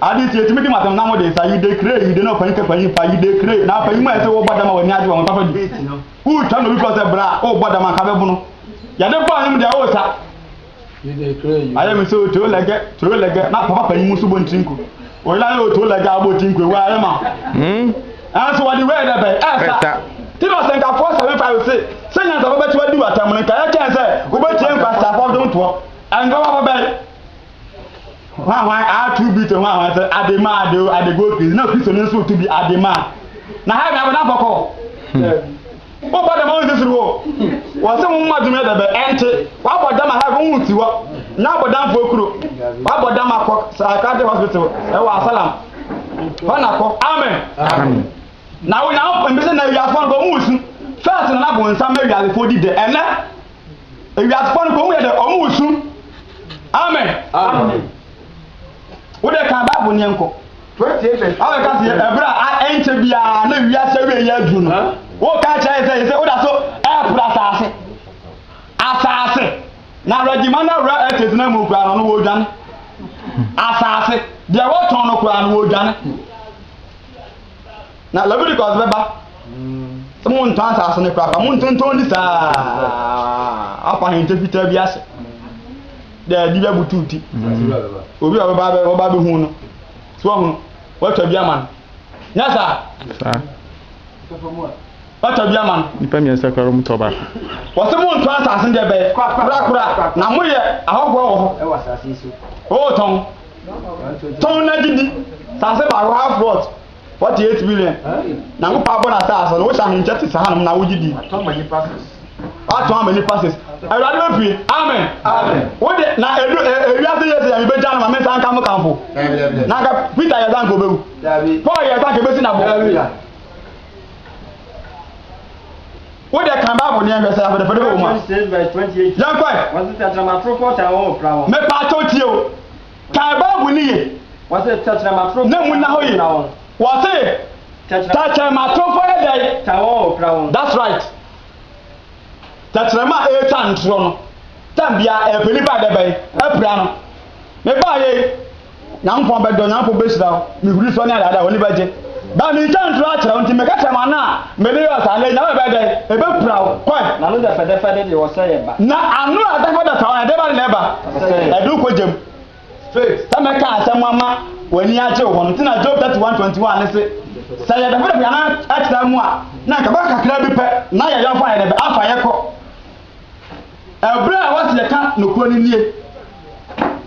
Ade nti etumi di mo atɛm na mo de nsa yi de kire yi de na ɔpanyin ka panyin pa yi de kire na panyin mu a ɛsɛ wɔbɔ dam a wɔani agye wɔn nsa so di. Wotwa na obi fɔ sɛ bra a ɔrebɔ dam anka bɛbono. Yɛde bɔ nnwom deɛ ɔresa. ayɛ mi sɛ o turo lɛgɛ turo lɛgɛ na papa panyin mu nso bɔ ntiri nko o yɛrɛ ayɛ o turo lɛgɛ abɔ ntiri nko ewu ayɛ ma ɛnso wɔde wɛɛ dɛ bɛn ɛsa ti na ɔsɛ nka four seven five se sɛ nyansa bɛ bɛti wadi wata mu nka yɛ kyɛn sɛ wobɛtie nkwa sa fɔ dom toɔ ɛnka wɔn abɔ bɛn. Hwanhwan aa tu bi to hwanhwan sɛ ade ma ade o, ade go crazy, na Kristoni nso retu bi ade ma a. Na ha yɛ bea bɔnefo kɔ? Dabi. Wobɔ dam a wonsi soro hɔ. Wɔse wo mma dwom yɛ dɛ bɛ, ɛnte. Wabɔ dam a ha wo nsi hɔ. Nya abɔdamfoɔ kuro. Wabɔ dam a kɔ Psychiatric Hospital ɛwɔ Asalam. Hɔ na kɔ. Amen. Na wo Nyankopɔn, mese na wiasefoɔ no kɔ, wonsu. First na na bonsam ma wiasefoɔ di dɛ. Ɛnɛ. ewiasefoɔ no kɔn mu yɛ dɛ wɔn wɔ sum amen wo deɛ kan baabo neɛ nkɔ awo ɛka seɛ ɛberɛ a ɛnkyɛ biara na ewiase awie yɛ aduru no woka kyerɛ sɛ yɛ sɛ woda so ɛɛporo asaase asaase na awurɛgyima no awura ɛtɛtena mu koraa no no wɔdwane asaase deɛ wɔtɔn no koraa no wɔdwane Na Leviticus bɛba sɛ montɔn asase no korakora, montontɔn di saa afa ahente fitaa bi ase. Daabi bɛbutu ti. Obi a ɔbɛba ɔbɛba bɛhu no. So ɔhunu, watwa bi ama no. Nyɛ saa. Saa. Watwa bi ama no. Nipa mmiɛnsa koraa wɔn tɔ baako. Wɔsɛ montɔn asase no deɛ bɛyɛ korakora na moyɛ ahɔhoɔ wɔ hɔ. Wɔtɔn. Tɔn na gye di. Asase baako half plot. Forty eight million. Na wo paa bɔ na saa asɔ no wohyɛ ahenkyɛ te saa nom na wogye di. Atɔn ma nipa ses. Atɔn ma nipa ses. Awurade bɛ pie. Amen. Amen. Wo de na edu ewia se yɛ se yɛ bɛ gya no ma me san ka mo kanfo. Na ka Peter yɛ san ko bewu. Paul yɛ san ke besi na bo. Wo de kan Bible ne yɛn sɛ afɛdɛ fɛdɛ bɛ wo ma. Yɛn kɔɛ. Me pa atɔ tie o. Kae Bible no yie, na mu nna hɔ yie. Wɔse, Tɛkyerɛma atorofo yɛ dɛn? That's right. Tɛkyerɛma a ɛretwa ntorɔ no, time biara ɛpɛ nipa a ɛdɛ bɛn? Apira no. Mebaeɛ yi, Nyankopɔn bɛdɔ, Nyankopɔn bɛhyira wo, mehuri so ne adeade a w'ani bɛgye. Ba me nkyɛn ntoro akyerɛ wo, nti meka kyerɛ mo ana a mede yɔɔ saa, na nya wo a ɛbɛyɛ dɛn? Ɛbɛpira wo. Kɔe. Na ano dɛfɛdɛfɛde deɛ ɔsɛ yɛ ba. Na ano a dɛfɛdɛfɛ hɔ, ɛdeɛba ne na ɛba? Ɔsɛ yɛ. Ɛde wo kɔ gya mu. Straight. Sɛ mɛka asɛm ama w'ani agye wo ho no nti na Job 31, 21 no se, Sɛ yɛ dɛfɛdɛfɛ yɛ ano akyerɛ mo a, na anka ɛbɛka kakra bi pɛ, na yɛ yɔnfo a yɛne bɛ afa yɛ kɔ. Ɛberɛ a wɔsi ɛka nokorɛ no nie.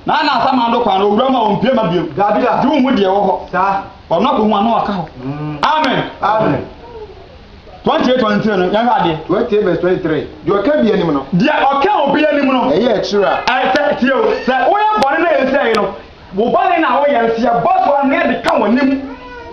Na ana asa man do kwan no owura mu a ɔmpue ma biom? Dabida. Gye wonhu deɛ ɛwɔ hɔ. Saa. Ɔno ako ho ano aka hɔ. Amen. Amen. 28 wɔn ntirɛ no yɛnhwɛ adeɛ. 28 verse 23 deɛ ɔka bi anim no. Deɛ ɔka obi anim no. Ɛyɛ akyire a. Ɛsɛ tie o sɛ woyɛ bɔne na ɛnsɛ yi no wo bɔne na woyɛ no sɛ yɛbɔ so ano yɛde ka wɔn anim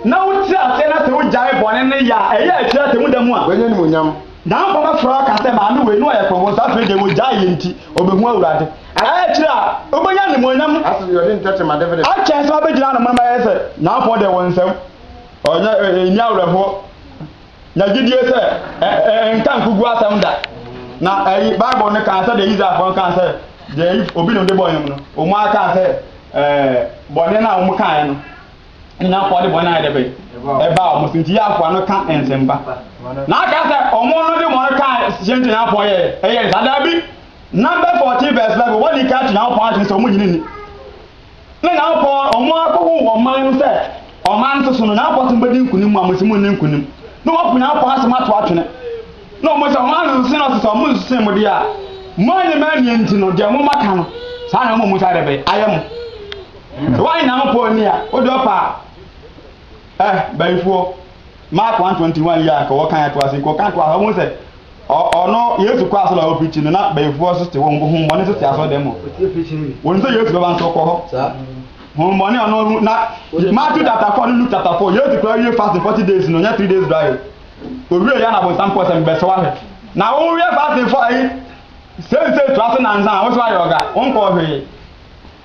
na wote aseɛ na sɛ wogyae bɔne no yɛ a ɛyɛ akyire atɛmu da mu a. Wɔanya animuonyam. Nanfo bɛfrɛ aka sɛ maame wei na ɔyɛ kɔmɔ so afei deɛ wɔgyae yɛ nti ɔbɛhu Awurade. Ɛyɛ akyire a ɔbɛnya animuonyam akyɛn sɛ ɔbɛgyina ano moma yɛ sɛ nanfoɔ deɛ wɔn nsam ɔnyɛ ɛnni awerɛhoɔ. Nya gyidie sɛ ɛnka nkuguo asɛm da. Na ɛyi Bible no kaa sɛdeɛ Israelfoɔ no kaa sɛ deɛ obi na ɔde bɔɔ wɔn no wɔn ara kaa sɛ ɛɛ bɔne no a wɔkaeɛ no. nyina kɔ de bɔn ayɛ dɛ bɛn ɛbaa ɔmo so nti yɛ akoa no ka nsɛmpa na aka sɛ ɔmo no de bɔn ka hyɛ nti na akoa yɛ ɛyɛ nsa daabi number fourteen verse eleven wɔde ka to nyankopɔn akyerɛ sɛ ɔmo nyini ni ne nyankopɔn ɔmo akɔho wɔ ɔman no sɛ ɔman no soso no nyankopɔn sɛ mbɛdi nkunim a mosi mo nni nkunim na wɔpo nyankopɔn asɛm ato atwene na ɔmo sɛ ɔmo asese no ɔsesa ɔmo nsese mo deɛ a mo anyɛ ma nti no deɛ mo maka no saa na ɔmo mo sa dɛ bɛyɛ ayɛ mo Sɛ woayɛ Nyankopɔn ani a, wo de ɔpa a. Eh, bayifoɔ, Mark one twenty one yi a nka wɔkan toa so yi, kɔ kan toa so, wobɛhu sɛ ɔ, ɔno, Yesu kɔɔ asɔre a ɔwɔ preaching no, na bayifoɔ nso te hɔ, honhommɔne nso te asɔredɛm hɔ. Wɔnim sɛ Yesu bɛba nso ɔkɔ hɔ. Honhommɔne a ɔno, na Matthew chapter four ne Luke chapter four, Yesu koraa wie fasting forty days no, ɔnyɛ three days dry o. Owie yɛ na abonsam kɔɔ sɛ mebɛsɛ wahwɛ. Na wo yɛ fasting for ayi, sensei toa so nansa a, wo so ayɛ ɔga, wonkɔɔ hwee.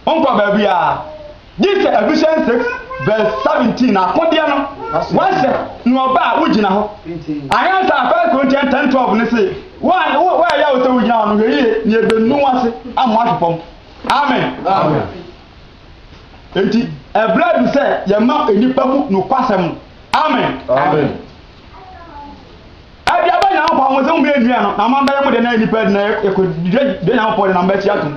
Ɔnkɔ baabiara, gye sɛ Ephesians 6 verse 17 na akodeɛ no wahyɛ ne ɔba a wogyina hɔ. Anyansa a First Corinthians 10 12 no se, wo a wo wo ɛyɛ wo sɛ wogyina hɔ no hwɛ yie na ebenu wase ama wahwe fam. Amen. Amen. Enti ɛbrɛ adu sɛ yɛma nnipa hu nokwasɛm no. Amen. Amen. Ɛde aba Nyankopɔn ho sɛ mo bɛyɛ nnua no na mo abɛyɛ mo de na nnipa de na ɛkɔ de Nyankopɔn de na mo bɛkyi atom.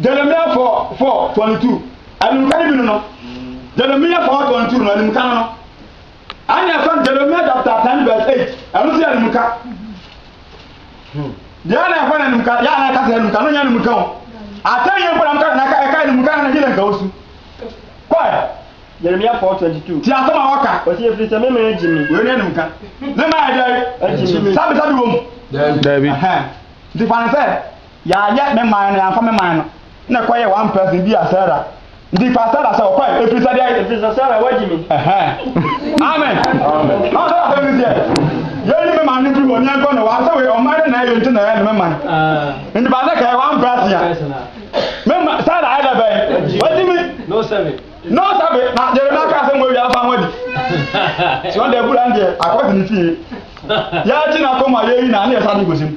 Jeremia 4 4 22 animka no bi no no Jeremia 4 22 no animka no no ɛne ɛfa Jeremia chapter 10 verse 8 ɛno nso yɛ animka deɛ na ɛfa no animka yɛ ana ɛka sɛ animka no nyɛ animka o atɛn yɛ nkɔdam ka na ɛka animka na ɛhyɛ nka wo su kɔɛ Jeremia 4:22. Ti asɛm a wɔka. Wɔsi efiri sɛ mɛmɛ agyi mi. Wei ne anum ka. Mɛmɛ ayɛ dɛ. Agyi mi. Sabi sabi wɔ mu. Dabi. Nti fa ne sɛ. Yɛayɛ me man na yɛamfa me man no. Ɛnna ɛkɔyɛɛ one person bi a Sarah, nti fa Sarah sɛ ɔkɔe, ɛfiri sɛ deɛn? Ɛfiri sɛ Sarah wagyi me. Ɛhɛn. Amen. Ɔn sɛ asɛm no teɛ? Yɛnyi me man no mfiri hɔ na yɛnkɔ ne hɔ. Asɛ wei ɔman no na ɛyɛ nti na ɛyɛ ne me man. Nti fa sɛ kɛyɛ one person a, me ma, Sarah ayɛ dɛ bɛn? Wagyi me. No sɛbe. No sɛbe. Na Jeremiah kaa asɛm wɔ awie a fa ho adi. Sɛ ɔn deɛ bura no deɛ akɔ de ne fie. Yɛakyi n'akoma a yɛyi no a ne yɛsan de kɔsi mu.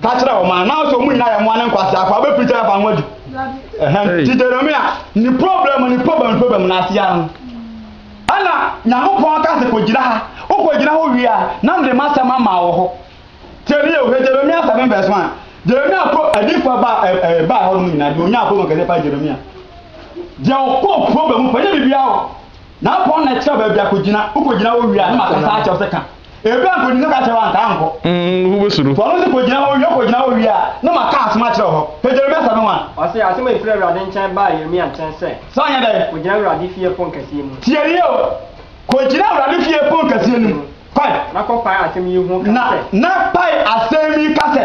Ka kyerɛ wɔn a, now sɛ wɔn nyinaa yɛ mmoa ne nkwasea akɔ, abɛfiri sɛ ɛfa ho adi. Nti Jeremia, ne problem ne problem problem no ase ano. Ɛna Nyankopɔn aka sɛ kɔgyina ha, wokɔgyina hɔ wie a, na mede m'asɛm ama wɔ hɔ. Tiɛ ne yɛ ohwɛ Jeremia 7 verse 1. Jeremia pro adiifoɔ ba ɛbaa hɔ nom nyinaa, deɛ ɔnyaa problem kɛseɛ paa Jeremia. Deɛ ɔkɔɔ problem paa, nyɛ biribiara o. Nyankopɔn na ɛkyerɛ baabi akɔgyina, wokɔgyina hɔ wie a, na makasa akyerɛ wo sɛ ka. Ebi a nkogyina ka kyerɛ wanka ankɔ. Mm, wo bɛ suro. Wɔn nso kogyina hɔ wie kogyina hɔ wie a, na ma ka asɛm akyerɛ hɔ. Hwɛ Jeremia nsɛm no wan. Ɔse, Asɛm a efiri Awurade nkyɛn baa Yeremia nkyɛn sɛ. Sɛ ɔnyɛ dɛn? Kogyina Awurade fie pon kɛseɛ mu. Tie yie o! Kogyina Awurade fie pon kɛseɛ no mu. Kɔ. Na kɔ pae asɛm yi ho ka sɛ. Na, na pae asɛm yi ka sɛ.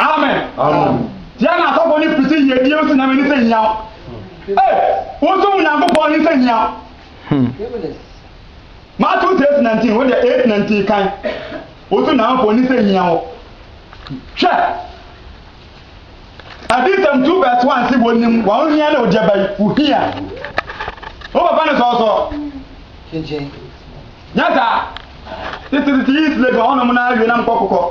Amen. Amen. Tia na asɔfo ne piti yiedie nso nyame ne sɛ hia. Ee, wonso mu Nyankopɔn ne sɛ hia. Matthew 6:19 wo deɛ 8:19 kan. Wonso Nyankopɔn ne sɛ hia wɔ. Hwɛ. Adisɛm 2 verse 1 se wɔnim wɔn hia na ogyaba yi wo hia. Wo papa ne sɔɔsɔ. Nyɛ saa. Tete tete yi sile bi hɔnom na awie nam kɔkokɔ.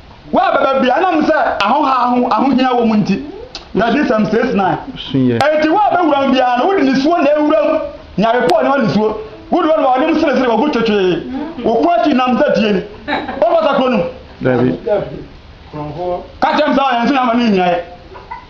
Wo a bɛba bia ɛnam sɛ ahoha ho ahohia wɔ mu nti. Nyadesɛm six nine. Enti wo a bɛwura mu biara no, wode nisuo na ɛwura mu, nyare pɔɔ ne ɔnisuo. Wo deɛ ɔnoma ɔnem seresere wɔ gu twetwee, wo ko akyi nam sɛ tie ni. Ɔmfata kuro no mu. Ka kyerɛ me sɛ ɔyɛ nso na ama no nnyinaeɛ.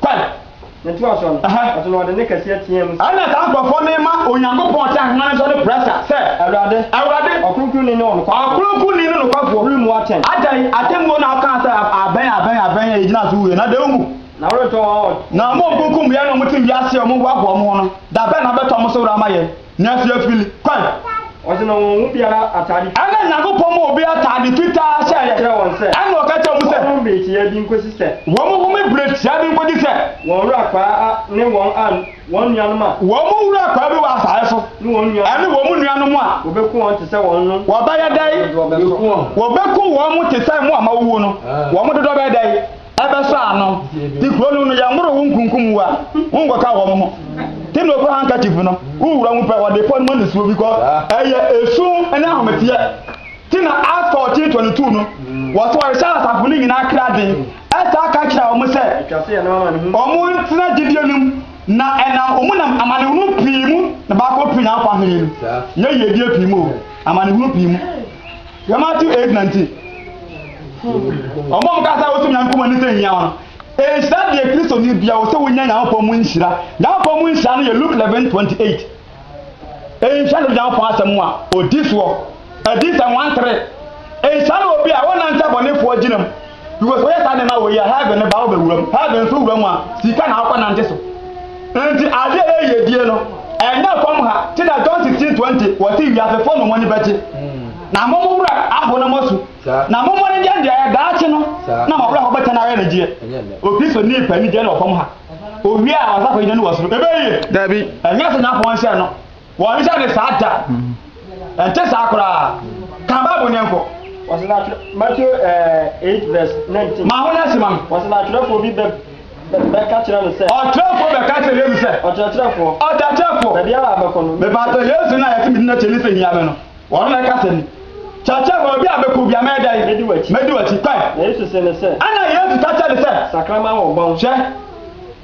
kwan. Yɛtoa so no, ɔso na ɔde nne kɛseɛ teaa mu sɛ. Ɛnna saa nkurɔfoɔ no rema Onyankopɔn ɔtaa homa no so ne prɛsa sɛ. Awurade. Awurade. Ɔkronkronni ne ɔnokwafoɔ. Ɔkronkronni ne nokwafoɔ. Woremmu atɛn. Atɛn, atemmuo na wokaa sɛ abɛn, abɛn, abɛn a yɛgyina so wuiɛ, na dɛn mu. Na woretɔ wɔn a wɔn. Na wɔn a wɔkunkum yɛn na wɔte wiase a wɔhoahoa wɔn ho no, da bɛn na wobɛtɔ wɔn so were ama yɛn? Wiase afiri kwan. Ɔse na wɔn mu biara ataade fitaa. Ɛna Nyankopɔn ma obi ataade fitaa hyɛɛ yɛ. Ɛna ɔka kyerɛɛ wɔn sɛ. Wɔnhome bere tiaa bi nkosi sɛ. Wɔnhome bere tiaa bi nkosi sɛ. Wɔn wura akwaa ne wɔn a, wɔn nuanom a. Wɔn wura akwaa bi wɔ asaase so. Ne wɔn nuanom a. Ɛne wɔn nuanom a. Wɔbɛku wɔn te sɛ wɔn no. Wɔbɛyɛ dɛn? Wɔbɛku wɔn. Wɔbɛku wɔn te sɛ mo a moawu no. Wɔn dodoɔ bɛyɛ dɛn? ɛbɛsɔ ano te kuro no no yɛmmoro wo nkunkum wo a wonkɔka wɔn ho te na ɔkɔ handkerchief no wowura mu pɛ wɔde pɔ no ma nisuo bi kɔ ɛyɛ esu ne ahometeɛ te na Acts 14:22 no wɔ sɛ wɔhyɛ asafo no nyinaa kra den ɛsaa ka kyerɛ wɔn sɛ wɔn ntena gyidie no mu na ɛnam wɔn nam amanehunu pii mu na baakɔ pii na akɔ ahene no nyɛ yiedie pii mu amanehunu pii mu Yɛ Matthew eight nineteen. Ɔmo ɔmo kasa wosi nya nkɔmɔ ne sɛ nyia wɔn. Nhyira deɛ Kristo ni bia wɔ sɛ wonya Nyankopɔn mu nhyira. Nyankopɔn mu nhyira no yɛ Luke eleven twenty eight. Nhyira no Nyankopɔn asɛm mu a odi soɔ. Adi sɛ one three. Nhyira no obi a ɔnante abɔnefoɔ gyina mu. Because wɔyɛ saa nneɛma wɔ yi a heaven no ba wɔ bɛwura mu. Heaven nso wura mu a sika na akɔ nante so. Nti adeɛ a ɛyɛ die no ɛnyɛ fam ha te na John 16:20 wɔte wiasefo no mo ani bɛgye na mo mo wura aho na moasu na mo mo ne deɛ deɛ ayɛ daakye no na mo wura ho bɛtɛ no ayɛ ne gyeɛ. Okristo ni pɛ ni deɛ no wɔ fam ha. Owie a wɔsafo yi no wɔ soro. Ɛbɛyie. Dabi. Ɛnyɛ sɛ nyapɔn nhyɛ no. Wɔrenhyɛ ne saa da. Ɛnte saa koraa. Ka Bible no yɛnkɔ. Wɔsi na atwerɛ Matthew eh, eight verse nineteen. Ma ho na si ma no. Wɔsi na atwerɛfoɔ bi bɛ bɛ bɛka kyerɛ no sɛ. Ɔtwerɛfoɔ bɛka kyerɛ Yesu sɛ. Ɔkyerɛkyerɛfoɔ. Ɔkyerɛkyerɛfoɔ. Baabi ara a bɛkɔ no. Mepatɔ Yesu na yɛte me din akyi ne sɛ hia me no. Wɔn na ɛka sɛ ni. Kyerɛkyerɛfoɔ baabi a bɛkɔ bia mɛyɛ dɛn? Mɛdi w'akyi. Mɛdi w'akyi. Kwan. Na Yesu se no sɛ. Ɛna Yesu ka kyerɛ no sɛ. Sakraman wɔ bɔn. Hwɛ.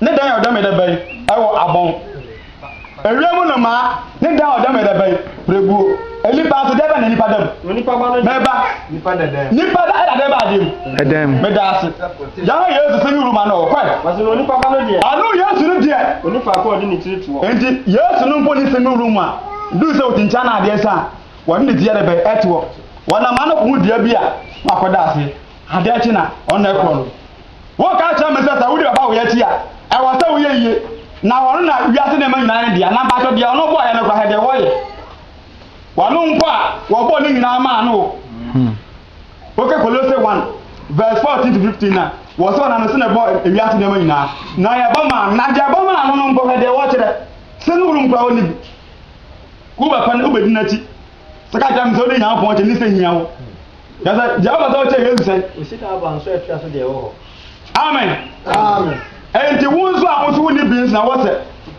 ne dan a ɔda mu da bɛn wɔ abɔn, ewia mu nnomaa ne dan a ɔda mu da bɛn pirebuo, nnipa nso dɛn bɛn na nnipa da mu? Onipa ba no da Mɛba, nipa da dan mu. nipa da ɛda dɛn bɛn adeɛ mu? Ɛdan mu. Meda ase. Yɛhwɛ Yesu sɛ ne wuru ma no ɔ, kɔe. Ɔse na onipa ba no deɛ. Ɔno Yesu no deɛ. Ɔni faako a ɔde ne tiri toɔ. Enti Yesu no mpo ne sɛ ne wuru mu a, duru sɛ ɔkyinkyin anaa adeɛ nsa a, ɔde ne ti yɛ dɛ bɛn ɛtoɔ. Ɔnam ano kɔhu dua bi a na wakɔda aseɛ. Adeɛ kye na ɔno na ɛkorɔ no. Woka kyerɛ me sɛ sɛ wode bɛba wo yɛ akyi a, ɛwɔ sɛ woyɛ yie, na ɔno na wiase nneɛma nyinaa ne dea, na mpakyɛ deɛ ɔno bɔɔ yɛ no kora hɛ deɛ wɔyɛ. Ɔno nko a wɔbɔɔ ne nyinaa maa no o. Hmm. Woka Kolose 1 verse 14 to 15 na wɔ sɛ ɔnam no sɛ na ɛbɔ wiase nneɛma nyinaa, na yɛbɔ maa no, na deɛ ɛbɔ maa no no nkɔ hɛ deɛ wɔkyerɛ, sɛ no wulum kora wɔne bi. Wobɛpɛ no, wobɛdi n'akyi. Sɛ ka kyerɛ me sɛ wode Nyankopɔn kyɛ me sɛ hia wo. Kyerɛ sɛ gya ɔpɛ sɛ ɔkyɛ Yesu sɛn? Osika aba nso ɛtra so deɛ ɛwɔ hɔ. Amen. Amen. Enti wo nso a wo nso wonni bi nso na wɔ sɛ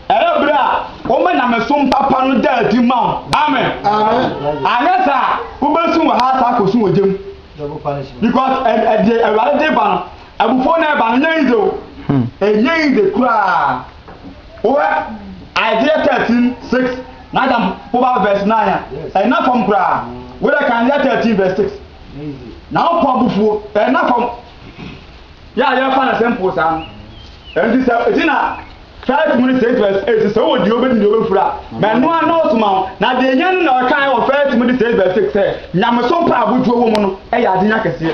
ɛyɛ bere a woma nyamesom papa no da adi ma wo. Amen. Amen. Anyɛ saa a wobɛsu wɔ ha saa akɔsu wɔ gya mu. Double punishment. Because ɛdeɛ Awurade de ba no Abufuo no ɛba no ɛnyɛ yidze o, ɛnyɛ yidze koraa. Wohwɛ Isaiah thirteen six n'adam poba verse nine a, ɛnna fam koraa. Wodɛ kan Isaiah thirteen verse six, Nyankopɔn abufuo ɛnna fam. Yɛ a yɛfa no simple saa no. Ɛnti sɛ egyina First Timothy six verse eight, sɛ wowɔ deɛ wobɛdi deɛ wobɛfiri a, ma ɛno ara nnɔɔso ma wo. Na deɛ ɛhia no na ɔkaeɛ wɔ First Timothy six verse six sɛ, Nyamesom pa a abodwoɔ wɔ mu no yɛ adenya kɛseɛ.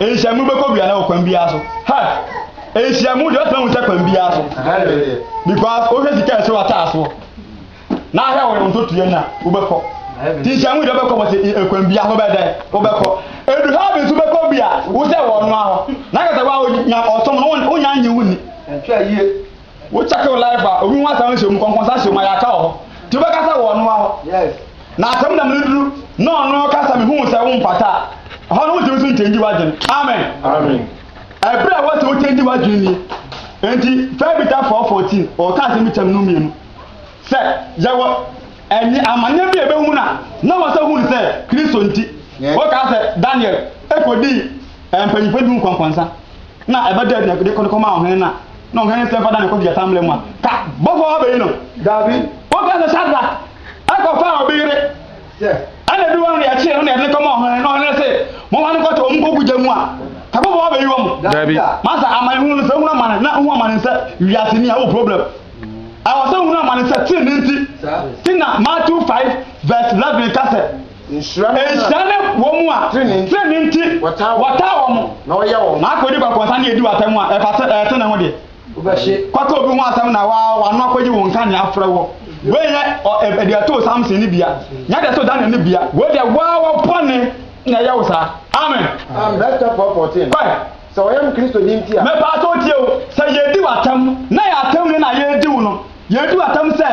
Nhyiamu bɛkɔ biara wɔ kwan biara so. Ha! Nhyiamu deɛ ɔtena hu sɛ kwan biara so. Because wohwɛ sika ɛsɛ wata asoɔ. Na ahwɛ wɔyɛ wɔn totoyɛ na wobɛkɔ. Ti nhyiamu deɛ wobɛkɔ wɔsɛ kwan biara so bɛdɛ wobɛkɔ. Edu ha bi nso bɛkɔ bi a wosɛ wɔn ahɔ. Na kasa wa nya ɔsom no wonya nye wo ni. Wo check wo life a obi ho asɛm nhyɛ mu kɔnkɔnsa hyɛ mu a yɛaka wɔ hɔ nti wobɛka sɛ wɔ ɔnoa hɔ na asɛm nam no duru na ɔno ka sɛ mehuu sɛ womfata a ɛhɔ no wontumi so nkyɛngyi w'adwene amen ɛberɛ a ɛwɔ sɛ wokyɛngyi w'adwene nie enti fɛbita 414 ɔka asɛm bi kyɛm no mmienu sɛ yɛwɔ ɛnyɛ amanneɛ bi a ɛbɛhu no a na wɔ sɛ hu no sɛ kristo nti woka sɛ daniel ɛkɔdii Ɛyɛ mpanyimfo du nkɔnkɔnsa na ɛbɛda adi na ɛde kɔde kɔmaa ɔhene no a na ɔhene nsɛm fa da ne kɔ gyata mmere mu a ka bɔfo a ɔbɛyi no. Dabi, wɔka sɛ Sadrak kɔfaa obi yere, ɛna edu hɔ no deɛ ɛkyee no na ɛde no kɔmaa ɔhene na ɔhene se momfa no kɔto wɔn nkɔgu gya mu a ka bɔfo a ɔbɛyi wɔn. Dabi. Masa amanehunu no sɛ hunu amane na hu amane sɛ wiase ni a wɔ problem. Ɛwɔ sɛ hunu amane sɛ tenenee nti ti na Matthew 5 verse 11 ka sɛ. Nhyira ne wɔn a trenee nti wɔtaa wɔn, na wɔyɛ wɔn. Na akodi kɔkɔ nsa ne edi w'atam a ɛte ne ho deɛ. Kɔka obi ho asɛm na w'ano akɔgye wo nka nea afrɛ wo. Wei nyɛ deɛ ɛtoo Samson no bia, nyɛ deɛ ɛtoo Daniel no bia. Wei deɛ woawa bɔne na ɛyɛ wo saa. Amen. Mɛpa sɛ wotie o, sɛ yɛdi w'atam na ɛyɛ atam ni na yɛredi wo no, Yɛatu atam sɛ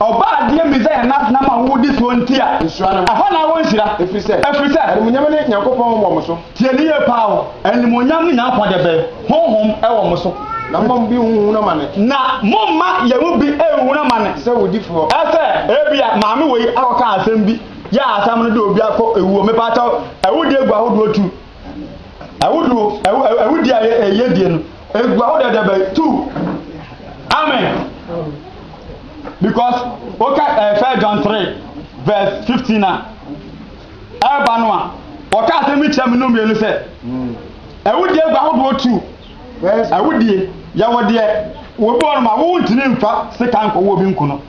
Ɔbaa adeɛ Mesaia no atena mo ahuhudeɛ soɔ nti a, Nhyira ne mo. ɛhɔ na awɔ nhyira, Ɛfiri sɛ, ɛfiri sɛ. animuonyam ne Nyankopɔn wɔ mo so. Tie no yie paa o. Animuonyam ne Nyankopɔn deɛ bɛn? Honhom wɔ mo so. Na momma mo bi nnhunu amane. Na momma yɛn mu bi nnhunu amane. Te sɛ awudifoɔ. Sɛ ebia maame wei akɔka asɛm bi, yɛ a asɛm no de obi akɔ awuo, mepaakyɛw, awudie gu ahodoɔ tu. Awudu, awudi a ɛyɛ die no, egua wo dɛdɛbɛ tu. Amen. Because woka ɛfɛ John 3 verse 15 a ɛreba no a wɔka asɛm bi kyerɛ me no mmienu sɛ awudie egua ahodoɔ tu. Awudie yɛwɔ deɛ wɔbi wɔ no ma wo ntini mfa sika nkɔwɔ obi nko no.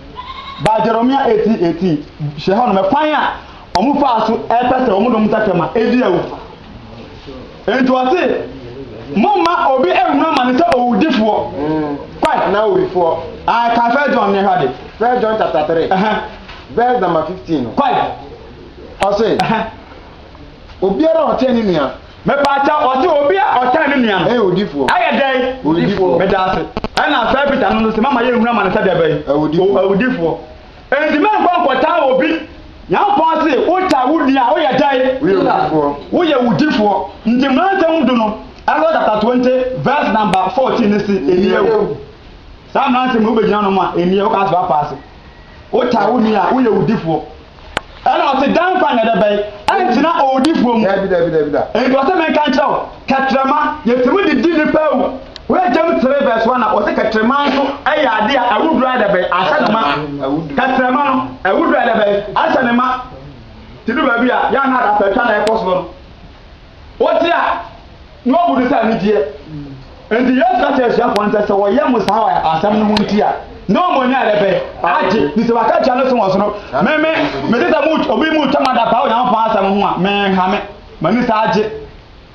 Ba Jeremia 18 18 hyɛ hɔ no mɛkwan a wɔfaa so pɛ sɛ wɔnom nsakyera ma edi awu. Enti ɔse, momma obi ɛhunu amane sɛ owudifoɔ. Kɔe. Anaa owifoɔ. Ae, kan First John ne hwɛ ade. First John chapter 3. Ɛhɛn. Verse number 15 no. Kɔe. Ɔse, Ɛhɛn. obiara a ɔtan ne nua. Mepaakyɛ, ɔse obi a ɔtan ne nua no. Ɛyɛ owudifoɔ. Ɛyɛ dɛn? Owudifoɔ. Medaase. Ɛna saa Peter no nso se, mamma yɛnhunu amane sɛ deɛbɛn? Awudifoɔ. Awudifoɔ. Enti mɛnkɔ nkɔtaa obi. Nyankopɔn se, Wotaa wo nua a, woyɛ dɛn? Woyɛ wudifoɔ. Nti Mmara Nsɛm Du no, Exodus chapter twenty verse number fourteen no se, Nniɛ o. Saa Mmara Nsɛm yi, wobɛgyina ano ma, nniɛ, wokaa se woapa ase. Wotaa wo nua a, woyɛ wudifoɔ. Ɛna ɔse, Daa nkwa na ɛde bɛn, ɛntena owudifoɔ mu. Dabi, dabi, dabi, da. Enti ɔse, Menka nkyerɛ wo, kɛtrɛma, yɛtumi de di nnipa awu. Hwɛ James 3 vs 1 a, ɔse kɛtrɛma nso yɛ adeɛ a awuduro ayɛ dɛ bɛn, ahyɛ ne ma. Kɛtrɛma no, awuduro ayɛ dɛ bɛn, ahyɛ ne ma. Nti du baabi a, yɛ a na adapɛtwa na ɛkɔ soɔ no. Otia, na obu no sɛ anigyeɛ. Enti Yesu ka kyerɛ asuafoɔ no sɛ, sɛ wɔyɛ mo saa wɔ asɛm no ho nti a, na wɔn ani ayɛ bɛn? Agye. Nti sɛ wɔaka atua no so wɔ soro, me me, mete sɛ mo, obi mo retwa mo adapaa wɔ Onyankopɔn asɛm ho a, menhame. M'ani saa agye.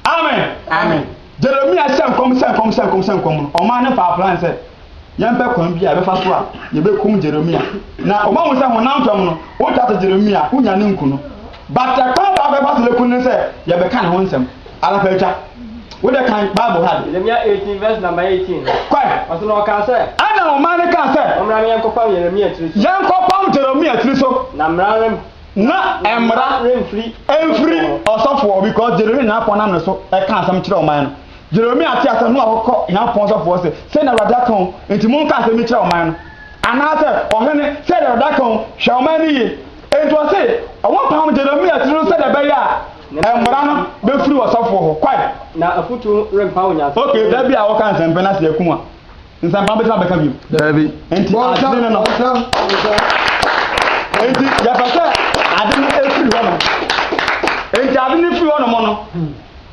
Amen. Amen. Jeremia hyɛ nkɔm hyɛ nkɔm hyɛ nkɔm hyɛ nkɔm no, ɔmaa no faa plan sɛ, yɛmpɛ kwan bi a yɛbɛfa so a yɛbɛkum Jeremia. Na wɔahu sɛ honam fam no, wotwa to Jeremia, wonya no nku no. But ɛkwan baako a yɛfa so bɛku no ne sɛ yɛbɛka ne ho nsɛm. Anapa atwa. Wode kan Bible ha de. Jeremia 18 verse number 18 no. Kɔe. Ɔso na ɔkaa sɛ. Ɛna ɔman no kaa sɛ. Mommra na yɛnkɔpam Jeremia tiri so. Yɛnkɔpam Jeremia tiri so. Na mmara rem. Na mmara remfiri. Ɛmfiri ɔsɔfoɔ because Jeremia na apɔn nam ne so ɛka asɛm kyerɛ ɔman no. Jeremia tee asɛm no a ɔkɔ Nyankopɔn sɔfo hɔ sɛ, Sei na Awurade aka o, enti monka asɛm yi nkyerɛ ɔman no. Anaasɛ, Ɔhene, sɛdeɛ Awurade aka o, hwɛ ɔman no yie. Enti ɔse wɔmpam Jeremia tiri no sɛdeɛ ɛbɛyɛ a mmara no bɛfiri ɔsɔfoɔ hɔ. Kwae. Na afutuo rempa Onyankopɔn. Okay, da bi a woka nsɛmpɛ na sɛ yɛku wo a. Nsɛmpa bɛtumi abɛka bio. Daabi. Nti adwene no no. Nti yɛpɛ sɛ ade no efiri hɔ nom. Nti ade no firi hɔ nom no.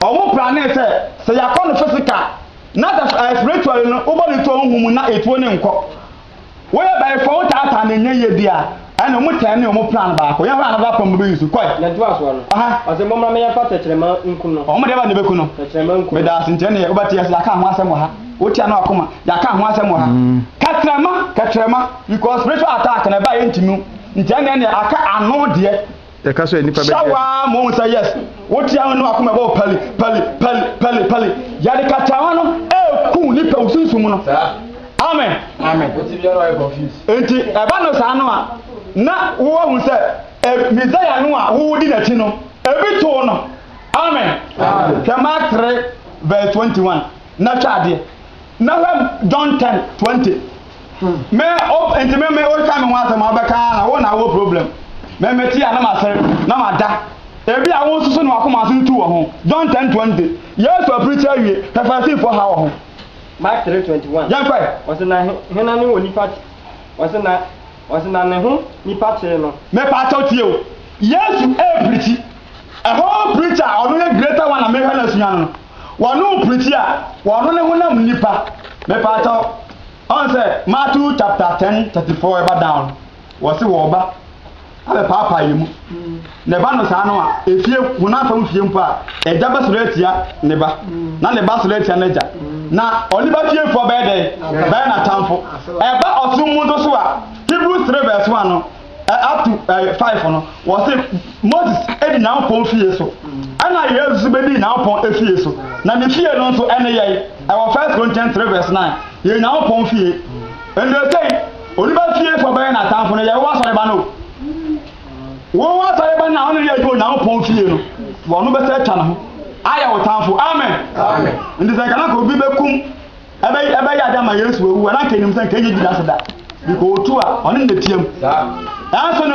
Ɔmo plane sɛ sɛ yɛakɔ no physical na sɛ ɛɛ eh, spiritually no wobɔ ne to ɔmo hu mu na etuo ne nkɔ. Woyɛ bɛyifo wotaataa ne nyɛ yie bi a. Ɛna ɔmo tɛn ne ɔmo plan baako. Yɛn hɔ a na bɛ apam bɛbɛ yi nsu. Kɔɛ. Nea ɛtoa soɔ no, Aha. ɔse mommra me yɛmfa tɛkyerɛma nku no. Ɔmo deɛ bɛn na ɛbɛku no? Tɛkyerɛma nku no. Medaase nti ɛneɛ wobɛte yɛse yɛaka ho asɛm wɔ ha. Wotia no akoma. Yɛaka ho asɛm wɔ ha. Kɛtrɛma, kɛtrɛma, because spiritual attack na ɛba a yɛntumi hu. Nti ɛneɛ neɛ aka ano deɛ. Yɛka sɛ nnipa bɛgye. Hyɛ wo ara ma wɔhu sɛ yes, wote ano ne w'akoma ɛbɔ pali, pali, pali, pali, pali. Yɛde katawa no ɛreku nnipa wo sunsum mu no. Amen. Amen. Wote biara ɔyɛ confused. Enti ɛba no saa no a, na wohu sɛ e, Messiah no a wodi n'akyi no, ebi too no. Amen. Hwɛ Mark 3 verse 21. na twa adeɛ na hwɛ John ten twenty mɛ o nti mɛ mɛ o ka mi ho asɛm a ɔbɛka na wo na wo problem mɛ mɛ ti a na ma sere na ma da ebi a wo nsoso na wakoma ase tu wɔ ho John ten twenty Yesu apirikyi awie hwɛ Farisifoɔ ha wɔ ho. Mark three twenty one. Yɛn kɔɛ. Ɔsi na hena ne wɔ nipa ti ɔsi na ɔsi na ne ho nipa tee no. Mɛ pa akyɛw tie o Yesu ɛɛpirikyi ɛhɔ pirikyi a ɔno yɛ greater one a mɛ hwɛ na sua no no. Wɔno pirikyi a wɔno ne honam nipa. Mepaatɔ ɔn sɛ Matthew chapter ten thirty four ɛba down wɔsi wɔba abɛ paapaa yɛ mu na ɛba no saa no a efie honam fam fie mpo a ɛgya bɛ soro atia ne ba na ne ba soro atia n'agya na ɔne ba fie foɔ bɛyɛ dɛ bɛyɛ n'atamfo ɛba ɔsom mu nso so a Hebrews three verse one no. ɛ up to ɛ five no wɔsi moses edi nyankopɔn fie so ɛna yesu nso bedi nyankopɔn efie so na ne fie no nso ɛne yɛn ɛwɔ first corinthians three verse nine yɛ nyankopɔn fie ɛnna ɛsɛn onipa fie fo bɛyɛ n'atamfo no yɛwɔ asɔreba no wɔn wɔ asɔreba no a wɔn yɛ adwuma nyankopɔn fie no wɔn bɛsɛ atwa ne ho ayɛ wɔ tamfo amen nti sɛ kanaka obi bɛkum Ɛbɛ ɛbɛyɛ ade ama Yesu wawu a na anka enim sɛ anka enye Judas da. Nka otu a ɔne no betiam. Nanso ne.